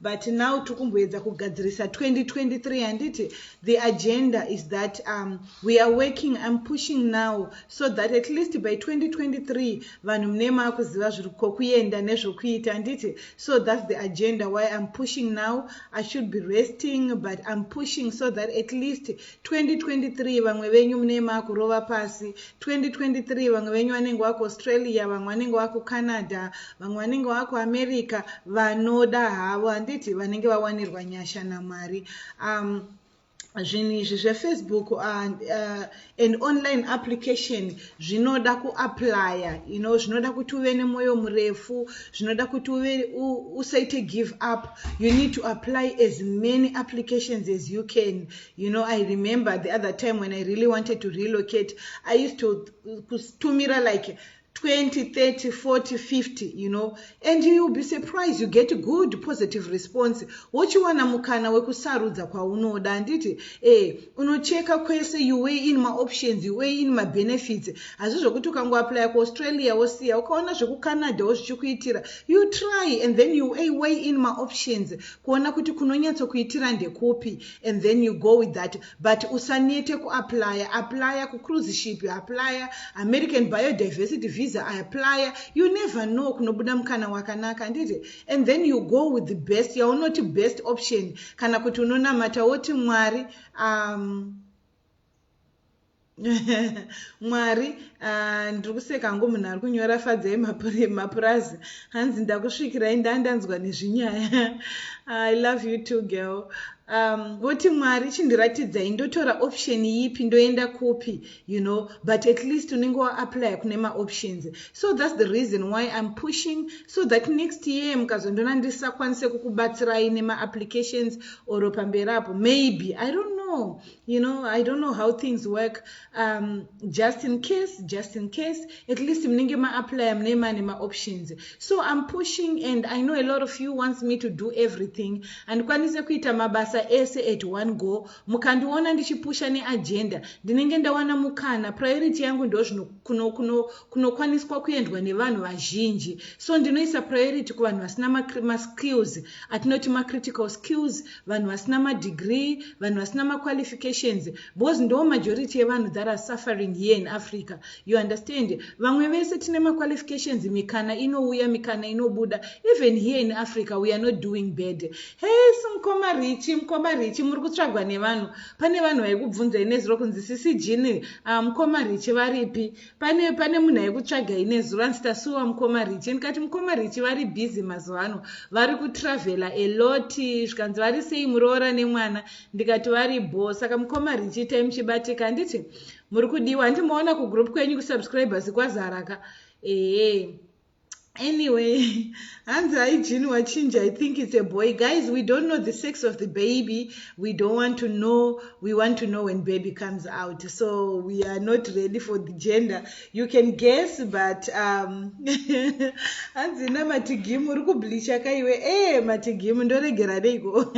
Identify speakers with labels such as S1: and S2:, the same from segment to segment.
S1: but now tiri kumboedza kugadzirisa 2023 handiti the agenda is that um, we are working im pushing now so that at least by 2023 vanhu mune maakuziva zviri kokuenda nezvokuita handiti so thats the agenda why im pushing now i should be resting but im pushing so that at least 2023 vamwe venyu mune makurova pasi 2023 vamwe venyu vanenge waku australia vamwe vanenge waku canada vamwe vanenge waku america vanoda havo handiti vanenge vawanirwa nyasha namwari um, zvinhu izvi zvefacebook uh, uh, and online application zvinoda kuaplya you know zvinoda kuti uve nemwoyo murefu zvinoda kuti uve usaite give up you need to apply as many applications as you can you know i remember the other time when i really wanted to relocate i used to kutumira like 20 30 40 50 you know and you'll be surprised you get good positive response wochiwana mukana wekusarudza kwaunoda handiti eh unocheka kwese you weigh in maoptions you weigh in mabenefits hazvi zvokuti ukangoaplya kuaustralia wosiya ukaona zvekucanada wo zvichikuitira you try and then you weigh in maoptions kuona kuti kunonyatsokuitira ndekupi and then you go with that but usanete kuaplya aplya kucruise ship aplya american biodiversity visa aplya you never know kunobuda mukana wakanaka handiti and then you go with the best yaunoti best option kana kuti unonamata woti mwari um, mwari ah, ndiri kuseka hangu munhu ari kunyora fadzai mapurazi hanzi ndakusvikirai ndandanzwa nezvinyaya i love you two girl um, voti mwari chindiratidzai ndotora option yipi ndoenda kupi you know but at least unenge waapply kune maoptions so thats the reason why im pushing so that next year mukazondona ndisakwanise kukubatsirai nemaapplications or pamberi apo maybe i don't know you know i don't know how things work um, just in case just in case at least munenge maapply mune mane maoptions so i'm pushing and i know a lot of you wants me to do everything handikwanise kuita mabasa ese at one go mukandiona ndichipusha neagenda ndinenge ndawana mukana priority yangu ndo zvino kunokwaniswa kuno, kuno kuendwa nevanhu vazhinji so ndinoisa priority kuvanhu vasina maskills atinoti macritical skills vanhu vasina madegree vanhu vasina maqualifications because ndo majority yevanhu that are suffering here in africa you understand vamwe vese tine maqualifications mikana inouya mikana inobuda even here in africa we are not doing bad hes mukoma richi mukoma richi muri kutsvagwa nevanhu pane vanhu vaikubvunzai nezuro kunzi sisi jini uh, ah, mukoma richi varipi pane pane munhu aikutsvaga ine zuro anzi tasuwa mukoma richi ndikati mukoma richi vari busy mazuva ano vari kutravhela eloti zvikanzi vari sei muroora nemwana ndikati vari bho saka mukoma richi itai muchibatika handiti muri kudiwa handimoona kugroup kwenyu kusubscribers kwazaraka ehe anyway hanzi haijini wachinja i think it's a boy guys we don't know the sex of the baby we don't want to know we want to know when baby comes out so we are not ready for the gender you can guess but um, hanzi na matigimu uri kublisha ka iwe e eh, matigimu ndoregera neiko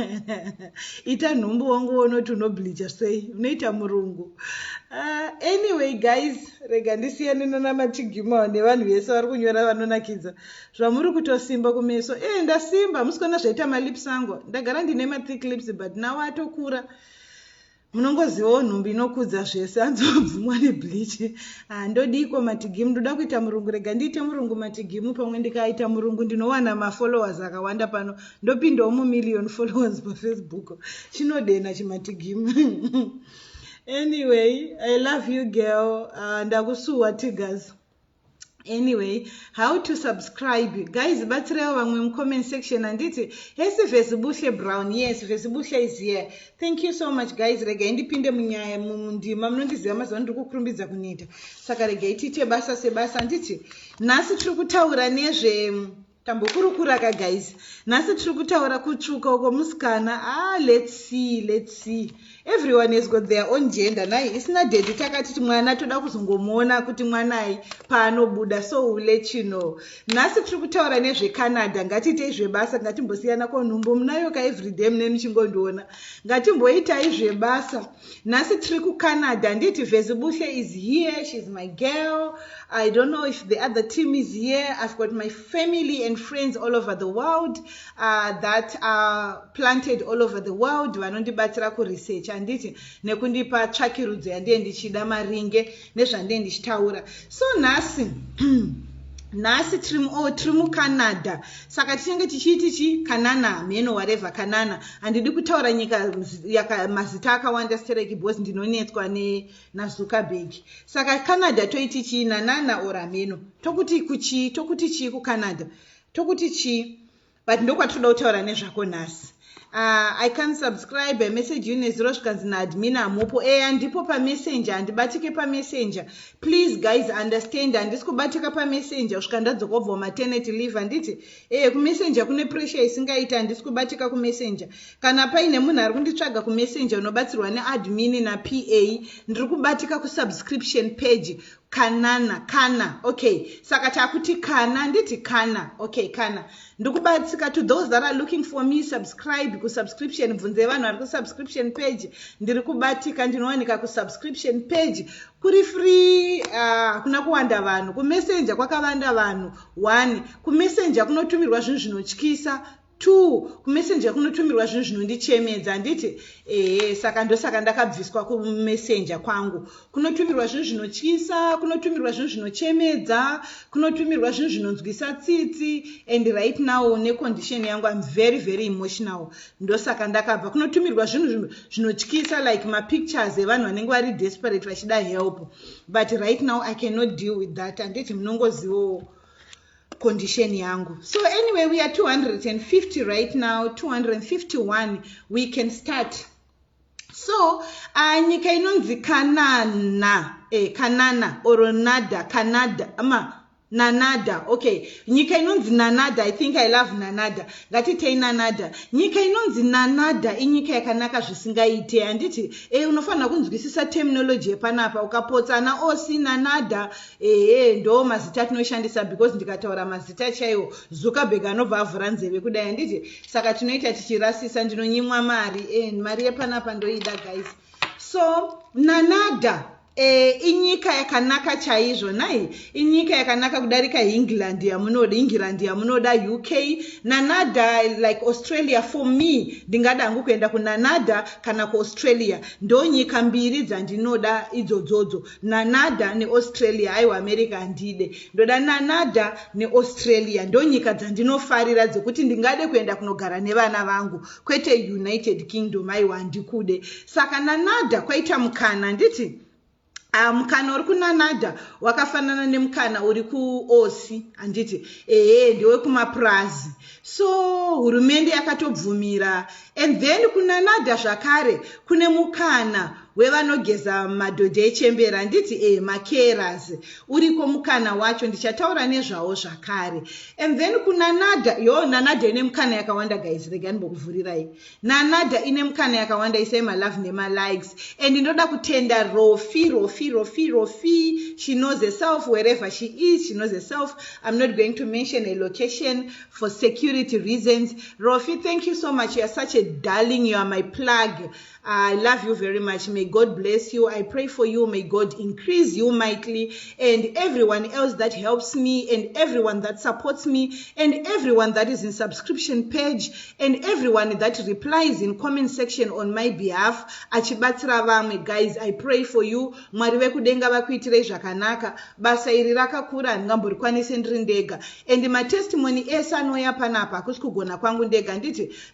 S1: ita nhumbu wangu wonoti unoblisha sei unoita murungu uh, anyway guys rega ndisiyane nanamatigimao nevanhu vese vari kunyora vanonakidza zvamuri kutosimba kumeso e eh, ndasimba hamusi kuona zvaita malips angu ndagara ndine mathick lips but nawo atokura munongozivawo nhumbi inokudza zvese anzobvumwa nebliche handodiko ah, matigimu ndoda kuita murungu rega ndiite murungu matigimu pamwe ndikaita murungu ndinowana mafollowers akawanda pano ndopindawo mumillion followers pafacebook chinodenha chimatigimu anyway i love you girl uh, ndakusuwa tigers anyway how to subscribe guys batsirawo vamwe mucomment section handiti hesi vesibuhle brown yes vesibuhle is here thank you so much guys regai ndipinde munyaya mundima munondiziva mazuva ndiri kukurumbidza kuneta saka regai tiite basa sebasa handiti nhasi tiri kutaura nezve Tambokurukura ka guys. Nhasi tiri kutaura kutsvuka uko musikana. Ah, let's see, let's see. Everyone has got their own gender. Nai isina daddy takati mwana toda kuzongomuona kuti mwanai paanobuda so we'll let you know. Nhasi tiri kutaura nezve Canada. Ngatiitei zvebasa, ngatimbosiyana ko nhumbu munayo ka everyday mune muchingondiona. Ngatimboitai zvebasa. nhasi tiri kucanada handiti vezibuhle is here sheis my girl i don't know if the other team is here i've got my family and friends all over the world uh, that are planted all over the world vanondibatsira kuresearch handiti nekundipa tsvakirudzo yandiye ndichida maringe nezvandee ndichitaura so nhasi nhasi trim o oh, tiri mucanada saka tinenge tichiiti chi kanana hameno wareva kanana handidi kutaura nyika yaka mazita akawanda stereki bcause ndinonetswa nenazuckerberg saka canada toiti chii nanana or hameno tokuti kuchii tokuti chii kucanada tokuti chii but ndokwatinoda kutaura nezvako nhasi uh, i can subscribe a message you nezuro zvikanzi naadmin hamupo e handipo pamessenger handibatike pamessenger please guys understand handisi kubatika pamessenger kusvika ndadzoka ubva umaternity leave handiti e eh, kumessenger kune pressure isingaiti handisi kubatika kumessenger kana paine munhu ari kunditsvaga kumessenger unobatsirwa neadmin napa ndiri kubatika kusubscription page kanana kana okay saka chakuti kana nditi kana okay kana ndikubatsika to those that are looking for me subscribe kusubscription bvunze vanhu vari kusubscription page ndiri kubatika ndinowanika kusubscription page kuri free ah, hakuna uh, kuwanda vanhu kumessenger kwakavanda vanhu one kumessenger kunotumirwa zvinhu zvinotyisa Two, kumessenger kunotumirwa zvinhu zvinondichemedza handiti? Ehe, saka ndosaka ndakabviswa kumessenger kwangu. Kunotumirwa zvinhu zvinotyisa, kunotumirwa zvinhu zvinochemedza, kunotumirwa zvinhu zvinonzwisa tsitsi and right now necondition yangu I'm very very emotional. Ndosaka ndakabva kunotumirwa zvinhu zvinotyisa like mapictures evanhu vanenge vari desperate vachida help. But right now I cannot deal with that handiti munongozivawo condition yangu so anyway we are 250 right now 251 we can start so uh, nyika inonzi kanana eh, kanana or nada canada ma nanada okay nyika inonzi nanada i think i love nanada ngatitei nanada nyika inonzi nanada inyika yakanaka zvisingaite handiti e unofanira kunzwisisa terminology yepanapa ukapotsa ana osi nanada ehe ndoo mazita tinoshandisa because ndikataura mazita chaiwo zuckerberg anobva avhura nzeve kudai handiti saka tinoita tichirasisa ndinonyimwa mari and mari yepanapa ndoida guys so nanada e, inyika yakanaka chaizvo nai inyika yakanaka kudarika england yamunoda england yamunoda uk nanada like australia for me ndingada hangu kuenda kunanada kana kuaustralia ndonyika mbiri dzandinoda idzodzodzo Nanada neAustralia haiwa America handide ndoda Nanada neAustralia ndonyika dzandinofarira dzekuti ndingade kuenda kunogara nevana vangu kwete United Kingdom haiwa handikude saka Nanada kwaita mukana handiti Uh, mukana uri kunanada wakafanana nemukana uri kuosi handiti ehe ndewekumapurazi so hurumende yakatobvumira and then kunanada zvakare kune mukana wevanogeza madhodhi echembera nditi e makeras uriko mukana wacho ndichataura nezvawo zvakare and then kunanada yo nanada ine mukana yakawanda guys rega ndimbokuvhurirai nanada ine mukana yakawanda isai malove nemalikes and ndoda kutenda rofi rofi rofi rofi she knows herself wherever she is she knows herself i'm not going to mention a location for security reasons rofi thank you so much youare such a darling you are my plug I love you very much. May God bless you. I pray for you. May God increase you mightily and everyone else that helps me and everyone that supports me and everyone that is in subscription page and everyone that replies in comment section on my behalf. Achibatsira vamwe guys, I pray for you. Mwari vekudenga vakuitirei zvakanaka. Basa iri rakakura handingamborikwanise ndiri ndega. And matestimony ese anouya panapa hakusi kugona kwangu ndega nditi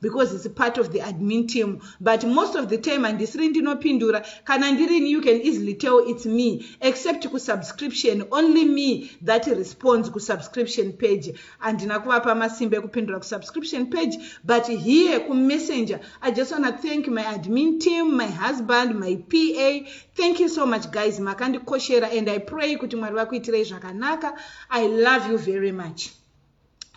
S1: because it's part of the admin team but most of the time handisiri ndinopindura kana ndirini you can easily tell it's me except kusubscription only me that responds kusubscription page handina kuvapa masimba ekupindura kusubscription page but here kumessenger i just wanna thank my admin team my husband my pa thank you so much guys makandikoshera and i pray kuti mwari vakuitirei zvakanaka i love you very much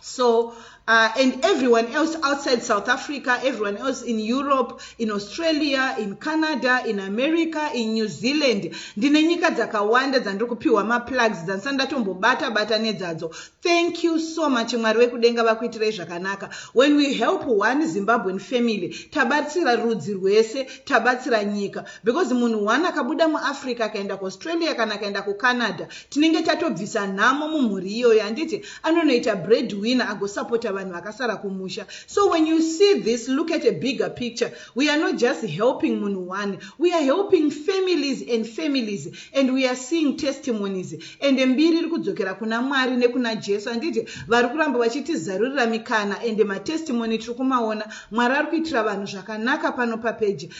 S1: So, uh, and everyone else outside South Africa, everyone else in Europe, in Australia, in Canada, in America, in New Zealand. Ndine nyika dzakawanda dzandiri kupiwa maplugs dzandisati ndatombobata bata nedzadzo. Thank you so much Mwari wekudenga vakuitirei zvakanaka. When we help one Zimbabwean family, tabatsira rudzi rwese, tabatsira nyika because munhu one akabuda muAfrica akaenda kuAustralia kana akaenda kuCanada tinenge tatobvisa nhamo mumhuri iyoyo handiti anonoita bread winner agosapota vanhu vakasara kumusha so when you see this look at a bigger picture we are not just helping munhu one we are helping families and families and we are seeing testimonies and mbiri iri kudzokera kuna mwari nekuna jesu handiti vari kuramba vachitizarurira mikana and matestimony tiri kumaona mwari ari kuitira vanhu zvakanaka pano papeji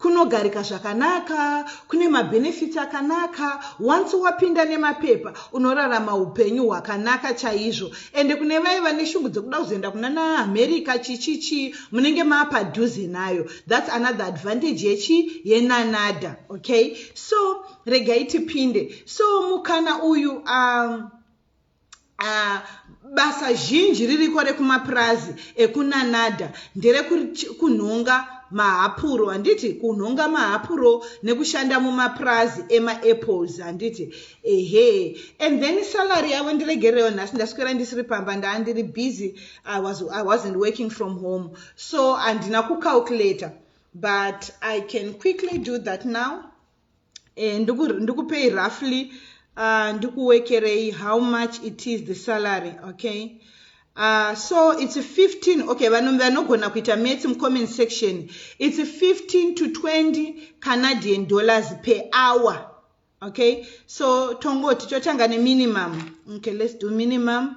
S1: kunogarika zvakanaka kune mabhenefiti akanaka once wapinda nemapepa unorarama upenyu hwakanaka chaizvo ende kune vaye vane shungu dzekuda kuzoenda kuna naamerica chichichi munenge maapadhuze nayo thats another advantage yechi yenanada okay so regai tipinde so mukana uyu um, Uh, basa zhinji ririko rekumapurazi ekunanada nderekunhonga mahapuro handiti kunhonga mahapuro nekushanda mumapurazi emaapples handiti ehe and then salary yavo ndiregererewo nhasi ndaswera ndisiri pamba ndaa ndiri busy I, was, i wasn't working from home so handina kucalculator but i can quickly do that now eh, ndikupei roughly uh, ndikuwekerei how much it is the salary okay Uh, so it's 15 okay vanhu vanogona kuita maths mucomment section it's 15 to 20 canadian dollars per hour okay so tongoti totanga neminimum okay let's do minimum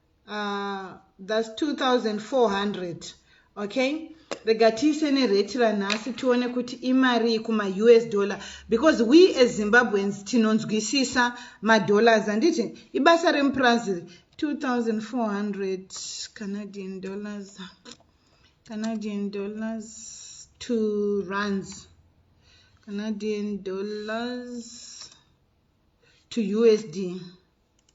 S1: uh, thats 2400 okay rega tiise nereti ranhasi tione kuti imarii kumaus dollar because we as zimbabweans tinonzwisisa madollars handiti ibasa remupurazi 2400 canadian dollars canadian dollars to runs canadian dollars to usd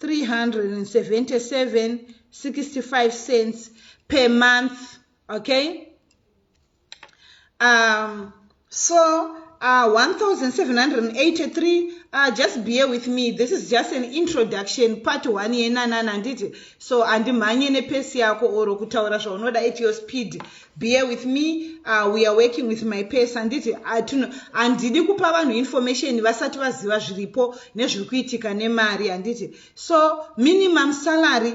S1: 377.65 cents per month okay um so uh, 1783 uh, just bear with me this is just an introduction part one yenanana handiti so handimhanye nepesi yako or kutaura zvaunoda at your speed bear with me uh, we are working with my pes handiti uh, handidi kupa vanhu information vasati vaziva zviripo nezviri kuitika nemari handiti so minimum salary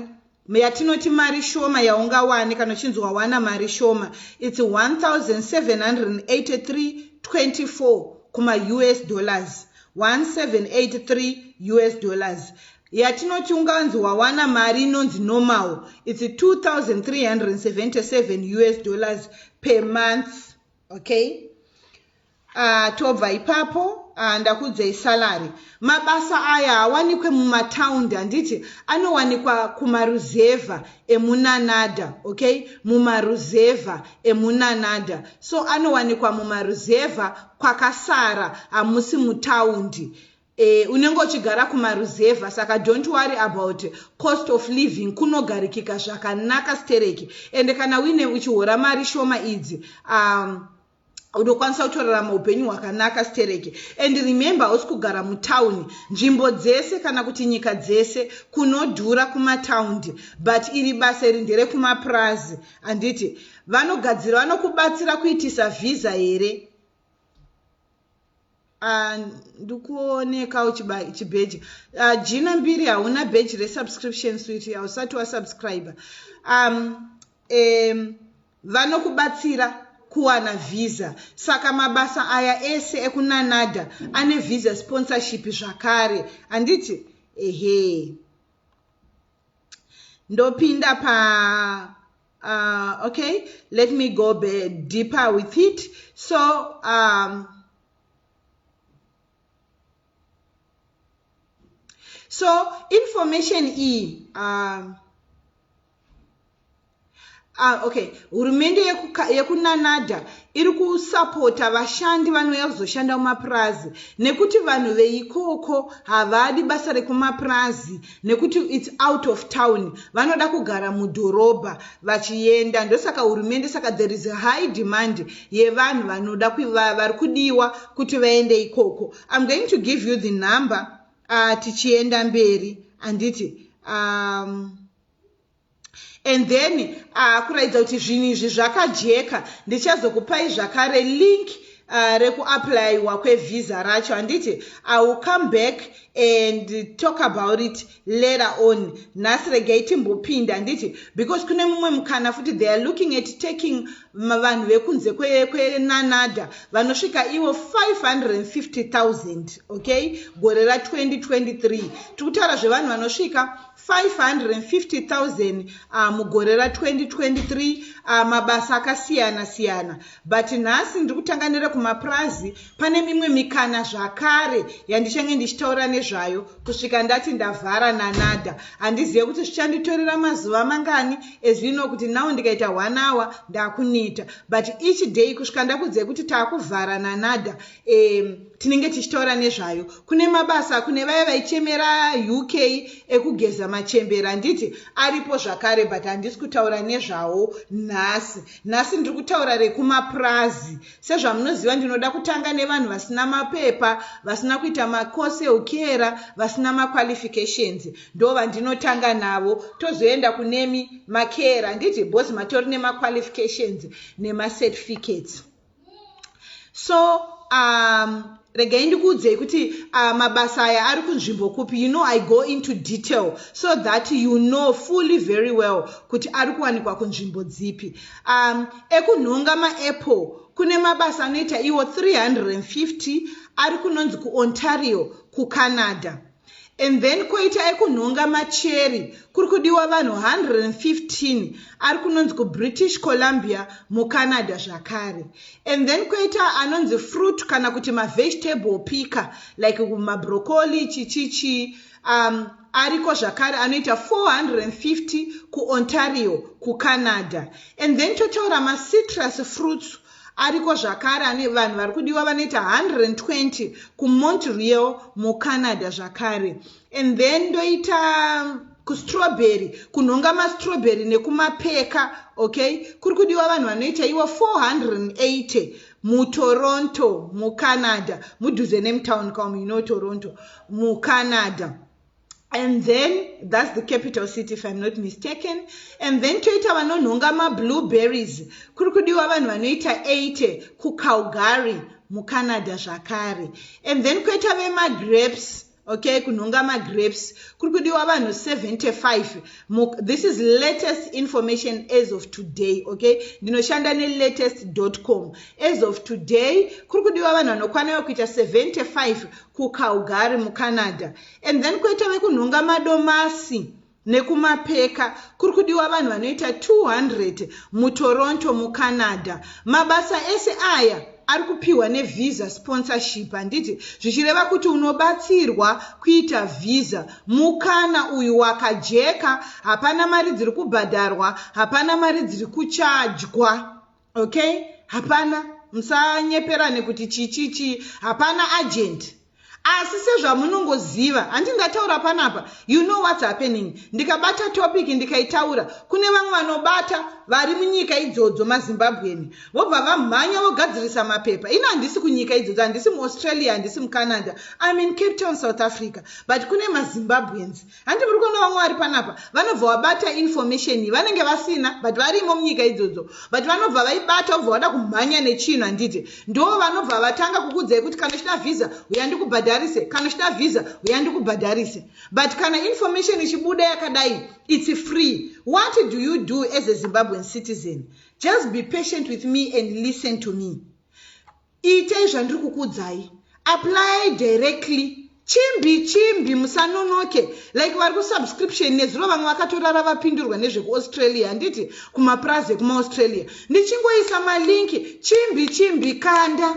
S1: yatinoti mari shoma yaungawane kana uchinzi wawana mari shoma its 178324 kumaus dollars 1783 us dollars yatinoti unganzi wawana mari inonzi normal its 2377 us dollars per month okay uh, tobva ipapo uh, ndakudzei salary mabasa aya awanikwe mumataundi handiti anowanikwa kumaruzevha emunanada okay mumaruzevha emunanada so anowanikwa mumaruzevha kwakasara hamusi mutaundi Eeh unenge uchigara kumaruzevha saka don't worry about cost of living kunogarikika zvakanaka stereki ende kana uine uchihora mari shoma idzi um, unokwanisa kutorarama upenyu hwakanaka stereki and remember hausi kugara mutauni nzvimbo dzese kana kuti nyika dzese kunodhura kumataundi but iri basa iri nderekumapurazi handiti vanogadzira vanokubatsira kuitisa vhiza here Ah, ndikuoneka uchibheji ah, jina mbiri hauna bheji resubscription swit hausati wasubscribe um, um, vanokubatsira kuwana visa saka mabasa aya ese ekunanada ane visa sponsorship zvakare handiti ehe ndopinda pa uh, okay let me go be deeper with it so um, so information e um, Ah, okay hurumende yekunanada iri kusapota vashandi vanouya kuzoshanda mumapurazi nekuti vanhu veikoko havadi basa rekumapurazi nekuti its out of town vanoda kugara mudhorobha vachienda ndosaka hurumende saka there is high demand yevanhu vanoda vari kudiwa kuti vaende ikoko im going to give you the number uh, tichienda mberi anditi um, and then akuratidza uh, kuti zvinhu izvi zvakajeka ndichazokupai zvakare link uh, rekuaplayiwa kwevhiza racho handiti iwill come back and talk about it later on nhasi regai timbopinda handiti because kune mumwe mukana futi they are looking at taking vanhu vekunze kwenanada vanosvika ivo 550000 okay gore ra 2023 tiri kutaura zvevanhu vanosvika 550,000 uh, mugore ra 2023 uh, mabasa akasiyana siyana but nhasi ndiri kutanga nerekumapurazi pane mimwe mikana zvakare yandichange ndichitaura nezvayo kusvika ndati ndavhara nanada handizive kuti zvichanditorera mazuva mangani ezvino kuti nawo ndikaita one hour ndakuneta but each day kusvika ndakudzei kuti taakuvhara nanada um tinenge tichitaura nezvayo kune mabasa kune vaya vaichemera uk ekugeza machembera handiti aripo zvakare but handisi kutaura nezvawo nhasi nhasi ndiri kutaura rekumapurazi sezvamunoziva ndinoda kutanga nevanhu vasina mapepa vasina kuita makose eukera vasina maqualifications ndo vandinotanga navo tozoenda kunemi makera handiti bhozi matori nemaqualifications nemacertificates so um, regai ndikuudzei kuti uh, mabasa aya ari kunzvimbo kupi you know i go into detail so that you know fully very well kuti ari kuwanikwa kunzvimbo dzipi um, ekunhonga maapple kune mabasa anoita iwo 350 ari kunonzi kuontario kucanada and then koita ekunhonga macheri kuri kudiwa vanhu 115 ari kunonzi kubritish columbia mucanada zvakare and then koita anonzi fruit kana kuti mavegetable picker like mabrocoli chichichi um, ariko zvakare anoita 450 kuontario kucanada and then totaura macitrus fruits Ariko zvakare ane vanhu vari kudiwa vanoita 120 kuMontreal muCanada zvakare. And then ndoita kustrawberry kunhonga mastrawberry nekumapeka okay kuri kudiwa vanhu vanoita iwo 480 mutoronto mucanada mudhuze nemtown com you know toronto mucanada and then that's the capital city if i'm not mistaken and then toita vanonhonga mablueberries kuri kudiwa vanhu vanoita 80 kucalgary mucanada zvakare and then koita vemagrapes okay kunhonga magrapes kuri kudiwa vanhu 75 this is latest information as of today okay ndinoshanda nelatest com as of today kuri kudiwa vanhu vanokwana vekuita 75 kucalgary mucanada and then koita vekunhonga madomasi nekumapeka kuri kudiwa vanhu vanoita 200 mutoronto mucanada mabasa ese aya ari kupiwa nevisa sponsorship handiti zvichireva kuti unobatsirwa kuita visa mukana uyu wakajeka hapana mari dziri kubhadharwa hapana mari dziri kuchajwa okay hapana musanyeperane kuti chichichi hapana agent asi sezvamunongoziva handi ndataura panapa you know whats happening ndikabata topic ndikaitaura kune vamwe vanobata vari munyika idzodzo mazimbabwen vobva vamhanya vogadzirisa mapepa ini handisi kunyika idzodzo handisi muaustralia handisi mucanada im in cape town south africa but kune mazimbabwens handi muri kuona vamwe vari panapa vanobva vabata information iyi vanenge vasina but varimo munyika idzodzo but vanobva vaibata vobva vada kumhanya nechinhu handiti ndo vanobva vatanga kukudzai kuti kana uchida vhisa uya ndikubhadharise kana uchida vhisa uya ndikubhadharise but kana information ichibuda yakadai its free what do you do as a zimbabwean citizen just be patient with me and listen to me Itai zvandiri kukuudzai. Apply directly. Chimbi chimbi musanonoke like vari kusubscription nezuro vamwe vakatorara vapindurwa nezvekuaustralia handiti kumapurazi ekumaaustralia ndichingoisa malinki chimbi chimbi kanda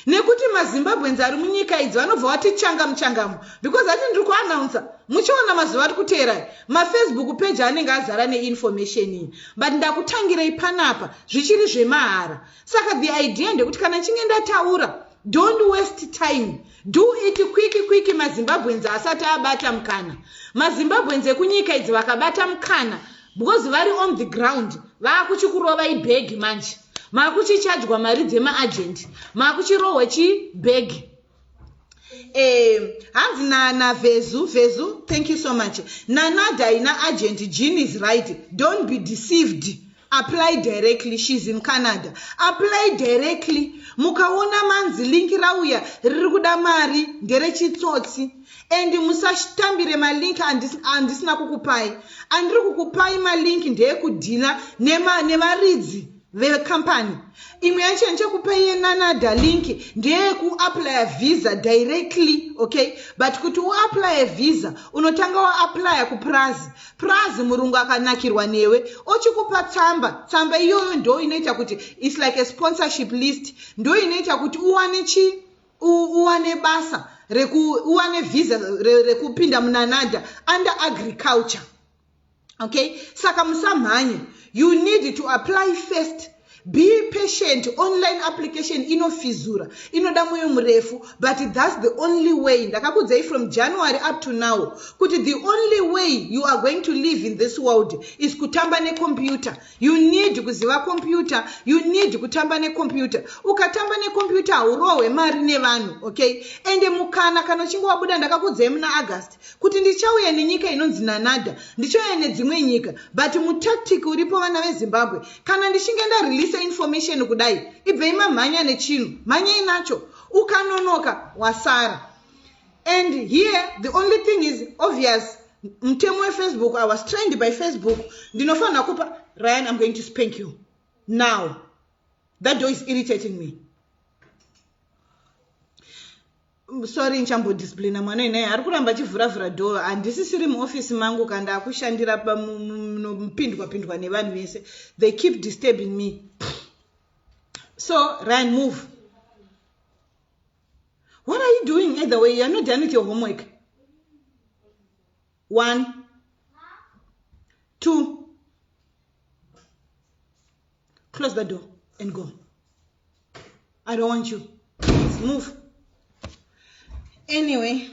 S1: nekuti mazimbabweans ari munyika idzi vanobva vati changa muchangamu because ati ndiri kuanounsa muchiona mazuva ari kuteerai mafacebook peji anenge azara neinformation iyi but ndakutangirei panapa zvichiri zvemahara saka the idea ndekuti kana chinge ndataura don't waste time do it kwiki kwiki mazimbabweans asati abata mukana mazimbabweans ekunyika idzi vakabata mukana because vari on the ground vaakuchikurova ibhegi manje maakuchichajwa mari dzemaagent maakuchirohwa chibhegi um hanzi nanavezu vezu thank you so much nanadai naagent jean is right don't be deceived apply directly shes in canada apply directly mukaona manzi linki rauya riri kuda mari nderechitsotsi and musatambire malink andisina kukupai andiri kukupai malink ndeyekudhila nevaridzi vecompany imwe yacho yandichakupa iye nanada link ndeyekuaplya visa directly okay but kuti uaplye visa unotanga waaplya kupurazi purazi murungu akanakirwa newe ochikupa tsamba tsamba iyoyo ndo inoita kuti its like a sponsorship list ndo inoita kuti uwane chi uwane basa reku uwane visa rekupinda munanada under agriculture okay saka musamhanye you need to apply first be patient online application inofizura inoda mwoyo murefu but thats the only way ndakakudzai from january up to now kuti the only way you are going to live in this world is kutamba nekompyuta you need kuziva kompyuta you need kutamba nekompyuta ukatamba nekompyuta haurohwe mari nevanhu okay ende mukana kana uchinge wabuda ndakakudzai muna august kuti ndichauya nenyika inonzi nanada ndichauya nedzimwe nyika but mutactic uripo vana vezimbabwe kana ndichinge ndareleasa information kudai ibvei mamhanya nechinhu mhanyei nacho ukanonoka wasara and here the only thing is obvious mutemo wefacebook i was trained by facebook ndinofanira kupa ryan im going to spank you now that door is irritating me sorry ndichambodisciplina mwana inai ari kuramba achivhuravhura door handisisiri muofisi mangu ka ndaakushandira munopindwa pindwa nevanhu vese they keep disturbing me so ryan move what are you doing either way youare not done with your homework one two close the door and go i don't want you Let's move anyway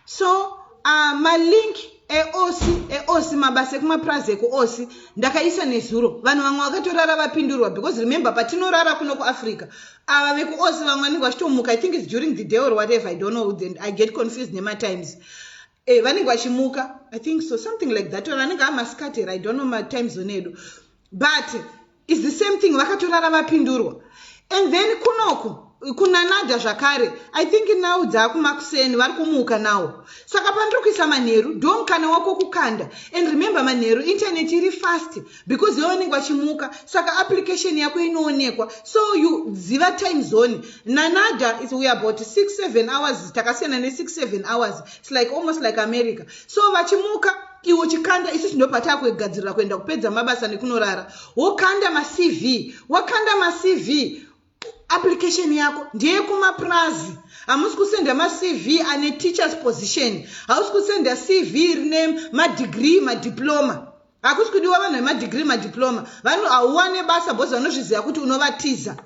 S1: so uh, malink eosi eosi mabasa ekumapurazi ekuosi ndakaisa nezuro vanhu vamwe vakatorara vapindurwa because remember patinorara kuno kuafrica ava vekuosi vamwe vanenge vachitomuka i think is during the day or whatever i don't know then i get confused nematimes eh, vanenge vachimuka i think so something like that or anenge amasikati here i don't know matime zone edu but is the same thing vakatorara vapindurwa and then kunoku kunanada zvakare i think now dzaakumakuseni vari kumuka nawo saka pandiri kuisa manheru do mukana wako kukanda and remember manheru internet iri fast because iwe unenge wachimuka saka application yako inoonekwa so you ziva time zone nanada is we about six seven hours takasiyana nesix seven hours its like almost like america so vachimuka iwo chikanda isu tinopatava kugadzirira kuenda kupedza mabasa nekunorara wokanda macv wakanda macv application yako ndeyekumapurazi hamusi kusenda macv ane teachers position hausi kusenda cv rine madegree madiploma hakusi kudiwa vanhu vemadegree madiploma vanhu hauwane basa bhozi vanozviziva kuti unovatiza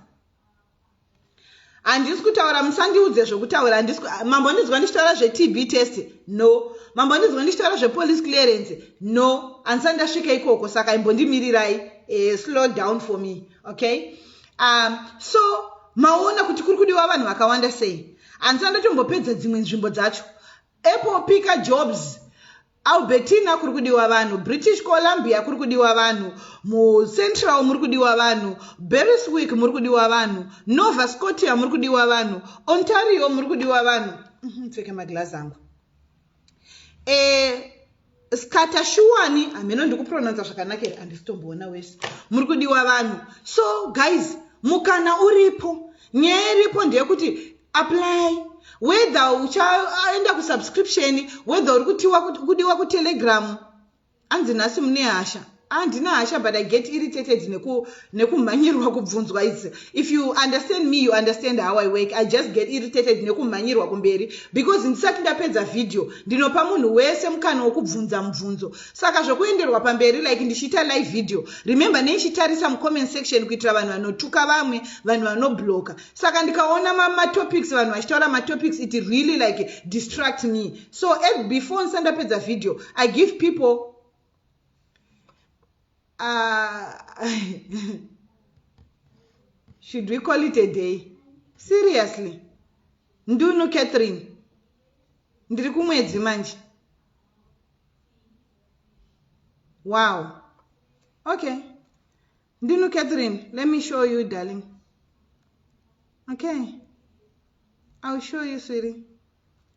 S1: handisi kutaura musandiudze zvokutaura mambo ndinzwa ndichitaura zvetb test no mambo ndinzwa ndichitaura zvepolice clearance no handisati ndasvika ikoko saka imbondimirirai eh, slow down for me okay um, so maona kuti kuri kudiwa vanhu vakawanda sei hanzi andotombopedza dzimwe nzvimbo dzacho apple pika jobs albertina kuri kudiwa vanhu british columbia kuri kudiwa vanhu mucentral muri kudiwa vanhu beriswick muri kudiwa vanhu nova scotia muri kudiwa vanhu ontario muri kudiwa vanhu mhm, pfeke maglazi angu eh, skata shuwani hameno ndikupronounsa zvakanaka here handisitomboona wese muri kudiwa vanhu so guys mukana uripo nyaya iripo ndeyekuti apply whether uchaenda kusubscription whether uri kutiwa kudiwa kutelegramu Anzi nhasi mune hasha. Ah, ndina hasha but I get irritated neku nekumhanyirwa kubvunzwa is if you understand me you understand how I work. I just get irritated nekumhanyirwa kumberi because ndisati ndapedza video ndinopa munhu wese mukana wekubvunza mubvunzo. Saka zvekuenderwa pamberi like ndichiita live video. Remember neichitarisa mucomment section kuitira vanhu vanotuka vamwe, vanhu vanobloka. Saka ndikaona matopics vanhu vachitaura matopics it really like distract me. so ev before ndisandapedza video i give people uh, should we call it a day seriously ndunu catherine ndiri kumwedzi manje wow okay ndunu catherine let me show you darling okay ill show you sweetie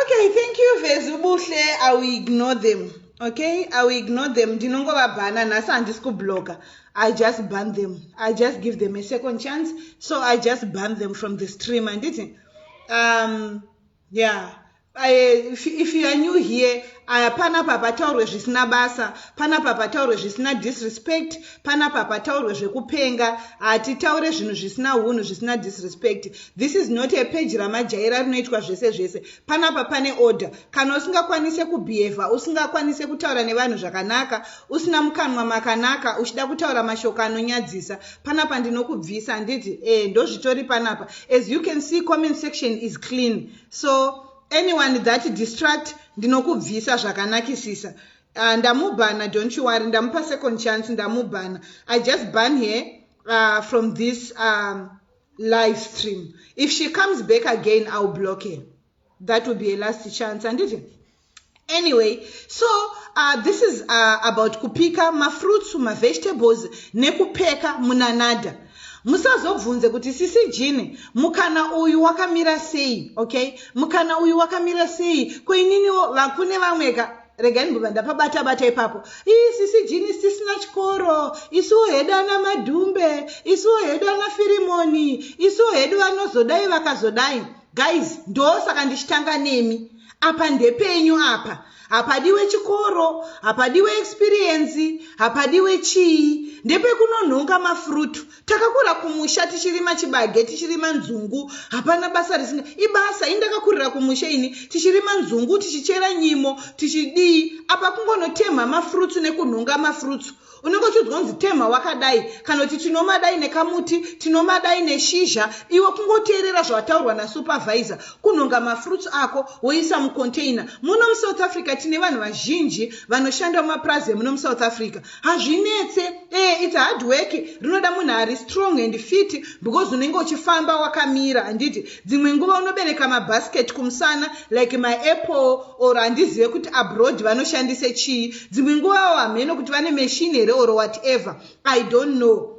S1: okay thank you vezubuhle i will ignore them okay i will ignore them ndinongovabhana nhasi handisi kubloga i just ban them i just give them a second chance so i just ban them from the stream handiti um Yeah. Uh, if, if you are new here uh, panapa pataurwe zvisina basa panapa pataurwe zvisina disrespect panapa pataurwe zvekupenga hatitaure uh, zvinhu zvisina unhu zvisina disrespect this is not a page ramajaira rinoitwa zvese zvese panapa pane order kana usingakwanise kubehava usingakwanise kutaura nevanhu zvakanaka usina mukanwa makanaka uchida kutaura mashoko anonyadzisa panapa ndinokubvisa handiti e eh, ndozvitori panapa as you can see comment section is clean so anyone that distract ndinokubvisa zvakanakisisa uh, ndamubhana don't you worry ndamupa second chance ndamubhana i just ban her uh, from this um, live stream if she comes back again iwill block her that will be a last chance handiti anyway so uh, this is uh, about kupika mafruits mavegetables nekupeka munanada musazobvunze kuti sisi jini mukana uyu wakamira sei okay mukana uyu wakamira sei koininiwo vakune vamweka regai ndibva ndapabata bata ipapo ii sisi jini sisina chikoro isuwo hedu ana madhumbe isuwo hedu ana firimoni isuwo hedu vanozodai vakazodai guys ndosaka ndichitanga nemi apa ndepenyu apa hapadiwe chikoro hapadiwe experience hapadiwe chii ndepekunonhonga mafrutu takakura kumusha tichirima chibage tichirima nzungu hapana basa risinga ibasa ini ndakakurira kumusha ini tichirima nzungu tichichera nyimo tichidii apa kungonotemha mafrutu nekunhonga mafrutu unenge uchiudzwa kunzi temha wakadai kana kuti tinomadai nekamuti tinomadai neshizha iwe kungoteerera zvawataurwa nasupervisor kunhonga mafruits ako woisa mucontainer muno musouth africa tine vanhu vazhinji vanoshanda mumapurazi emuno musouth africa hazvinetse e eh, its hard work rinoda munhu ari strong and fit because unenge uchifamba wakamira handiti Dzimwe nguva unobereka mabasket kumusana like maapple or handizive kuti abroad vanoshandise chii. Dzimwe nguvawo hameno kuti vane machine here or whatever. I don't know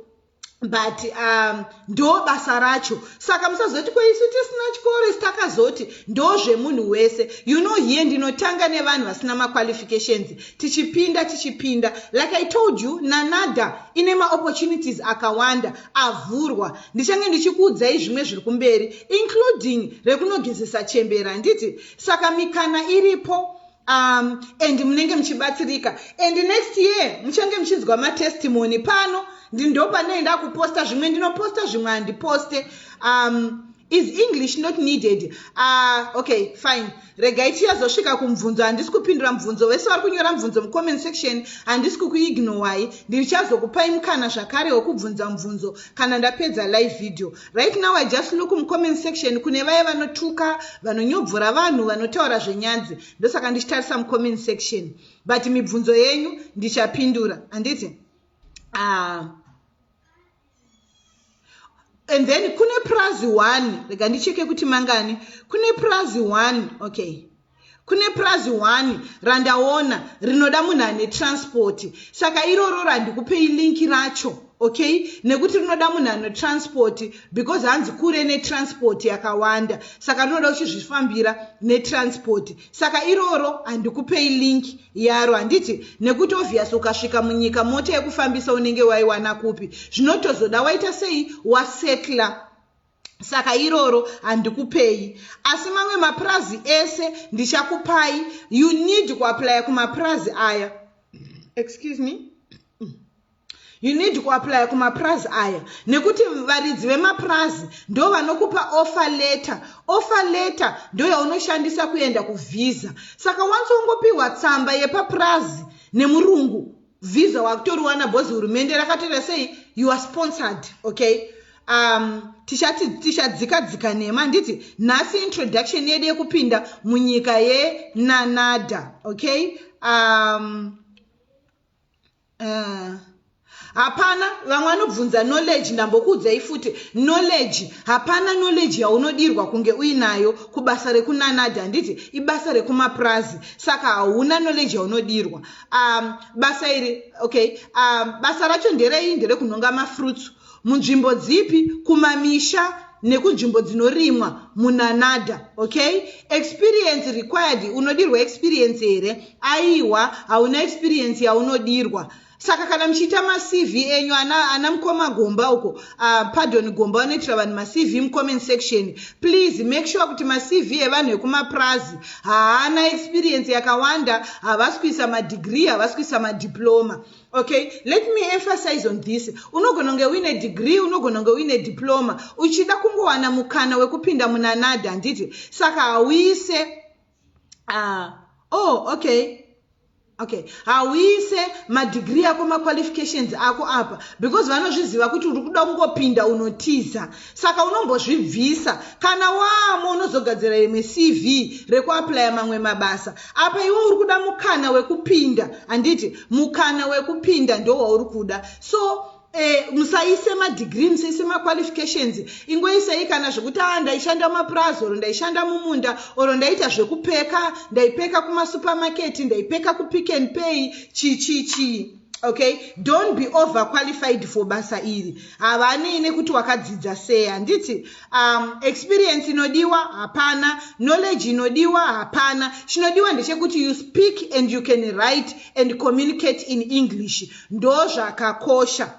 S1: but um, ndo basa racho saka musazoti ko isu tisina chikoro isi takazoti ndo zvemunhu wese you know here ndinotanga nevanhu vasina maqualifications tichipinda tichipinda like i told you nanada ine maopportunities akawanda avhurwa ndichange ndichikuudzai zvimwe zviri kumberi including rekunogezesa chembera handiti saka mikana iripo um, and munenge muchibatsirika and next year muchange muchinzwa matestimony pano ndopane ndakuposta zvimwe ndinoposta zvimwe handiposte um, is english not needed uh, okay fine Regai tichazosvika kumubvunzo handisi kupindura mubvunzo vese vari kunyora mubvunzo mucomment section handisi kukuignowai ndichazokupai mukana zvakare wekubvunza mubvunzo kana ndapedza live video right now i just look mucomment section kune vaye vanotuka vanonyobvora vanhu vanotaura zvenyanzi ndosaka ndichitarisa mucomment section but mibvunzo yenyu ndichapindura handiti ah. and then kune purazi one rega ndicheke kuti mangani kune purazi one okay kune purazi one randaona rinoda munhu ane transport saka iroro randikupei linki racho okay nekuti rinoda munhu ano transport because hanzi kure netransport yakawanda saka rinoda uchizvifambira netransport saka iroro handikupei link yaro handiti nekuti obvious ukasvika munyika mota yekufambisa unenge waiwana kupi zvinotozoda waita sei wasetla saka iroro handikupei asi mamwe mapurazi ese ndichakupai you need kuaplya kumapurazi aya excuse me You need kuaplaya kumapurazi aya nekuti varidzi vemapurazi ndo vanokupa offer letter. Offer letter ndo yaunoshandisa kuenda kuvhiza. Saka wanzi wongopiwa tsamba yepapurazi nemurungu vhiza wakutoriwana bhozi hurumende rakatoita sei you are sponsored okay um, tichati tichadzika dzika nhema handiti nhasi introduction yedu yekupinda munyika yenanada okay um, uh. hapana vamwe vanobvunza knowledge ndambokuudzai futi knowledge hapana knowledge yaunodirwa kunge uinayo kubasa rekunanadi handiti ibasa rekumapurazi saka hauna knowledge yaunodirwa um, basa iri okay um, basa racho nderei nderekunhonga mafruits munzvimbo dzipi kumamisha nekunzvimbo dzinorimwa munanada okay experience required unodirwa experience here aiwa hauna experience yaunodirwa saka kana muchiita macv enyu ana, ana mukoma gomba uko uh, pardon gomba vanoitira vanhu macv mucomment section please make sure kuti macv evanhu vekumapurazi haana experience yakawanda havasi kuisa madegree havasi kuisa madiploma okay let me emphasize on this unogona kunge uine degree unogona kunge uine diploma uchida kungowana mukana wekupinda munanada handiti saka hauise uh, oh okay okay hauise madigiri ako maqualifications ako apa because vanozviziva kuti uri kuda kungopinda unotiza Saka unombozvibvisa kana waamo unozogadzira imwe CV rekuaplaya mamwe mabasa. Apa iwe uri kuda mukana wekupinda handiti? Mukana wekupinda ndowauri kuda. So eh, musaise madegree musaise maqualifications ingoisei kana zvekuti a ah, ndaishanda mumapurazi or ndaishanda mumunda or ndaita zvekupeka ndaipeka kumasupermarket ndaipeka kupick and pay chii chii chii okay don't be over qualified for basa iri havanei nekuti wakadzidza sei handiti um, experience inodiwa hapana knowledge inodiwa hapana chinodiwa ndechekuti you speak and you can write and communicate in english ndozvakakosha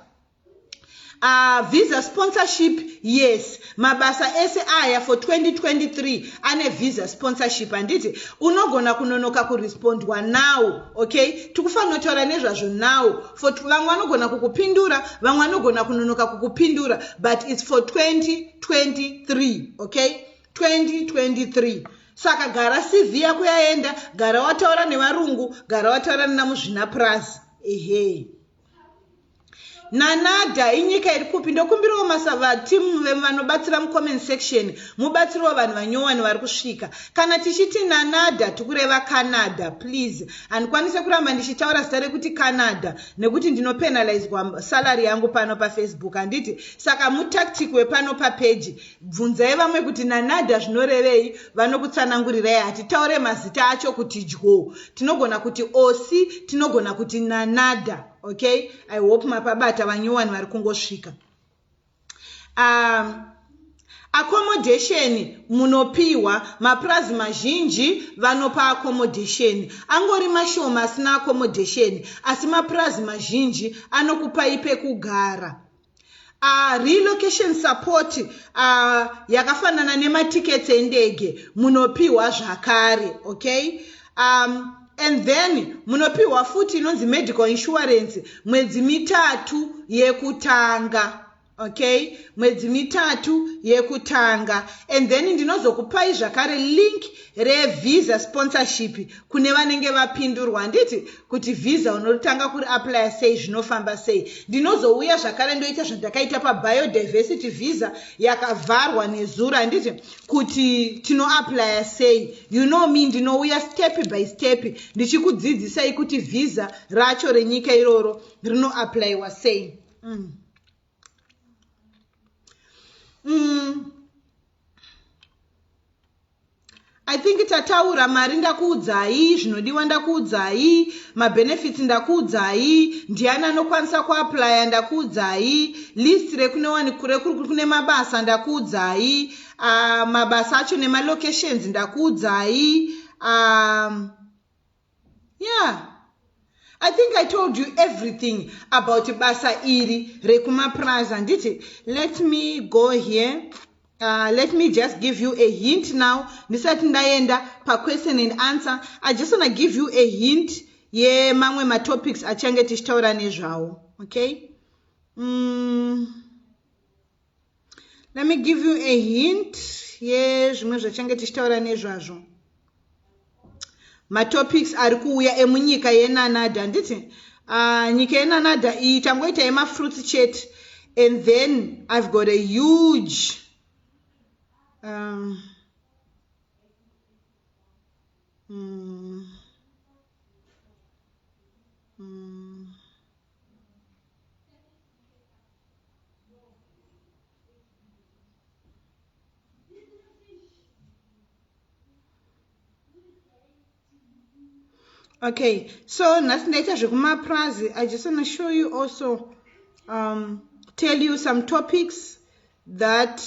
S1: Uh, visa sponsorship yes mabasa ese aya for 2023 ane visa sponsorship handiti unogona kunonoka kurespondwa now okay tikufanotaura nezvazvo now for vamwe vanogona kukupindura vamwe vanogona kunonoka kukupindura but its for 2023 okay 2023 saka gara cv yako yaenda gara wataura nevarungu gara wataura nenamuzvinapurazi ehe hey. nanada inyika iri kupi ndokumbirawo masavatimu vemu vanobatsira mucomment section mubatsiriwo vanhu vanyowani vari kusvika kana tichiti nanada tikureva canada please handikwanise kuramba ndichitaura zita rekuti canada nekuti ndinopenalizwa salary yangu pano pafacebook handiti saka mutactic wepano papeji bvunzai vamwe kuti nanada zvinorevei vanokutsanangurirai hatitaure mazita acho kuti dyo tinogona kuti osi tinogona kuti nanada okay i hope mapabata vanyowani vari kungosvika um, accommodation munopiwa mapurazi mazhinji vanopa accommodation angori mashoma asina accommodation asi mapurazi mazhinji anokupai pekugara Uh, relocation support uh, yakafanana nematickets endege munopiwa zvakare okay um, and then munopiwa futi inonzi medical insurance mwedzi mitatu yekutanga okay mwedzi mitatu yekutanga and then ndinozokupai zvakare link revisa sponsorship kune vanenge vapindurwa handiti kuti visa unotanga kuri aplya sei zvinofamba sei ndinozouya zvakare ndoita zvandakaita pabiodiversity visa yakavharwa nezuro handiti kuti tinoaplya sei you know me ndinouya step by step ndichikudzidzisai kuti visa racho renyika iroro rinoaplyiwa sei mm. mm. i think tataura mari ndakuudzai zvinodiwa ndakuudzai mabenefits ndakuudzai ndiani anokwanisa kuaplya ndakuudzai list rekunewanikure kune mabasa ndakuudzai uh, mabasa acho nemalocations ndakuudzai um, Yeah. I think I told you everything about basa iri rekumapurazi handiti let me go here Uh, let me just give you a hint now ndisati ndaenda paquestion and answer i just wanna give you a hint yemamwe yeah, matopics achange tichitaura nezvawo okay mm. let me give you a hint yezvimwe yeah, zvachange tichitaura nezvazvo matopics ari kuuya emunyika yenanada handiti uh, nyika yenanada iyi tangoita yemafruits chete and then i've got a huge um, mm, mm. okay so nhasi ndaita zvekumapurazi i just wanna show you also um, tell you some topics that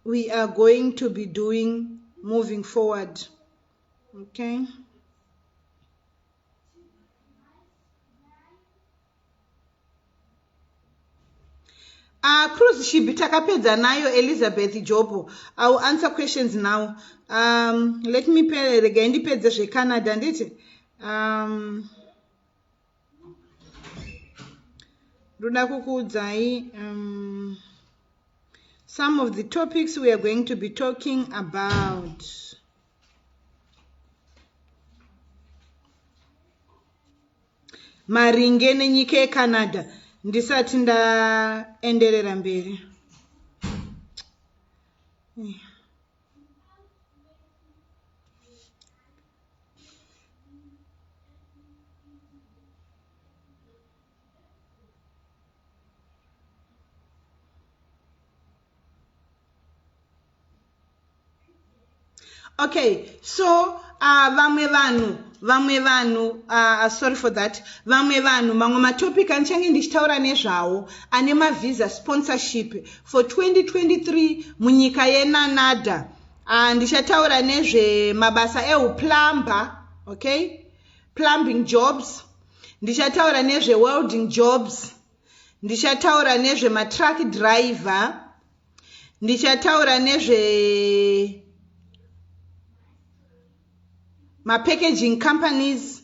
S1: we are going to be doing moving forward okay Uh, Cruz Shibi takapedza nayo Elizabeth Jobo. I will answer questions now. Um, let me pay regai ndipedze zveCanada nditi. Um, ndoda kukuudzai um, some of the topics we are going to be talking about. Maringe nenyika yeCanada ndisati ndaenderera mberi. okay so uh, vamwe vanhu vamwe vanhu uh, uh, sorry for that vamwe vanhu mamwe matopic anichange ndichitaura nezvawo ane mavisa sponsorship for 2023 munyika yenanada uh, ndichataura nezvemabasa euplumber okay plumbing jobs ndichataura nezvewelding jobs ndichataura nezve matruck driver ndichataura nezve mapackaging companies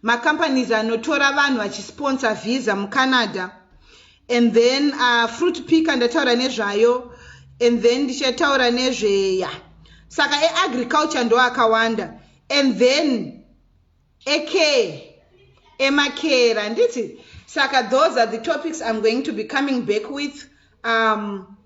S1: macompanies anotora vanhu vachisponsor visa mucanada and then uh, fruit picker ndataura nezvayo and then ndichataura nezveya saka eagriculture ndoakawanda and then ekee emakera handiti saka those are the topics i'm going to be coming back with um,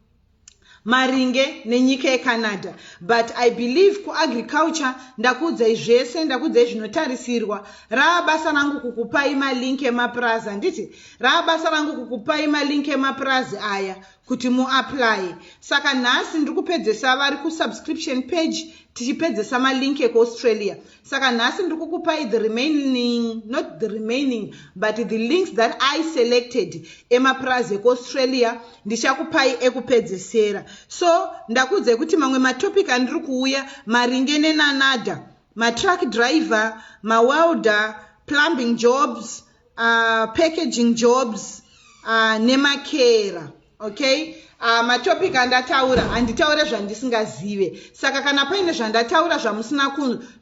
S1: maringe nenyika yecanada but i believe kuagriculture ndakuudzai zvese ndakuudzai zvinotarisirwa rava basa rangu kukupai malink emapurazi handiti rava basa rangu kukupai malink emapurazi aya kuti muapply saka nhasi ndiri kupedzesa vari kusubscription page tichipedzesa malink ekuaustralia saka nhasi ndiri kukupai the remaining not the remaining but the links that i selected emapurazi ekuaustralia ndichakupai ekupedzesera so ndakuudzai kuti mamwe matopic andiri kuuya maringe nenanada matruck driver mawelder plumbing jobs uh, packaging jobs uh, nemakera okay uh, matopic andataura handitaure zvandisingazive saka kana paine zvandataura zvamusina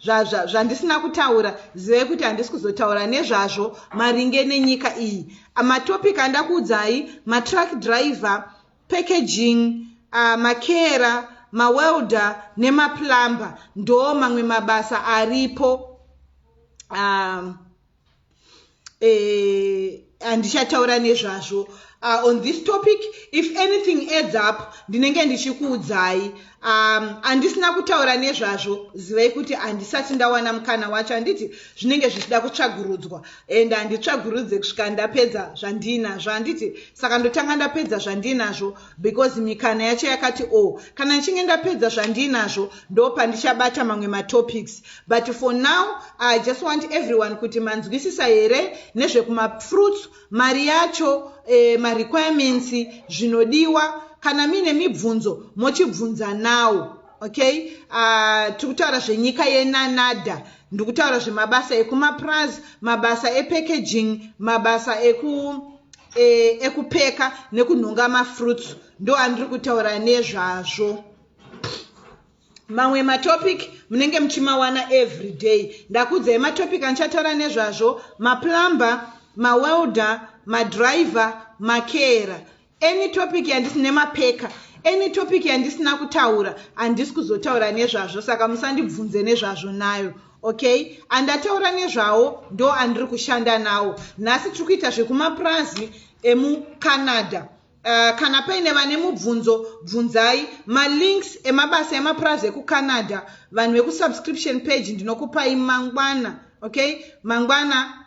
S1: zvandisina zva, zva, kutaura zivei kuti handisi kuzotaura nezvazvo maringe nenyika iyi uh, matopic andakuudzai matruck driver packaging uh, makera mawelder nemaplumber ndo mamwe mabasa aripo um, eh, handichataura uh, nezvazvo uh, on this topic if anything adds up ndinenge ndichikuudzai um, handisina um, kutaura nezvazvo zivai kuti handisati ndawana mukana wacho handiti zvinenge zvichida kutsvagurudzwa and handitsvagurudze kusvika ndapedza zvandiinazvo handiti saka ndotanga ndapedza zvandiinazvo because mikana yacho yakati o oh, kana ndichinge ndapedza zvandiinazvo ndo pandichabata mamwe matopics but for now i just want everyone kuti manzwisisa here nezvekumafruits mari yacho eh, marequirements zvinodiwa kana miine mibvunzo mochibvunza nawo okay uh, tiri kutaura zvenyika yenanada ndiri kutaura zvemabasa ekumapraz mabasa epackaging mabasa eku e, ekupeka nekunhonga mafruits ndo andiri kutaura nezvazvo mamwe matopic munenge muchimawana every day ndakuudzai matopic andichataura nezvazvo maplumber mawelder madriver makera Any topic yandisine mapeka any topic yandisina kutaura handisi kuzotaura nezvazvo saka musandibvunze nezvazvo nayo okay andataura nezvawo ndo andiri kushanda nawo nhasi tiri kuita zvekumapurazi emucanada Eh, kana paine vane mubvunzo bvunzai malinks emabasa emapurazi ekucanada vanhu vekusubscription page ndinokupai mangwana okay mangwana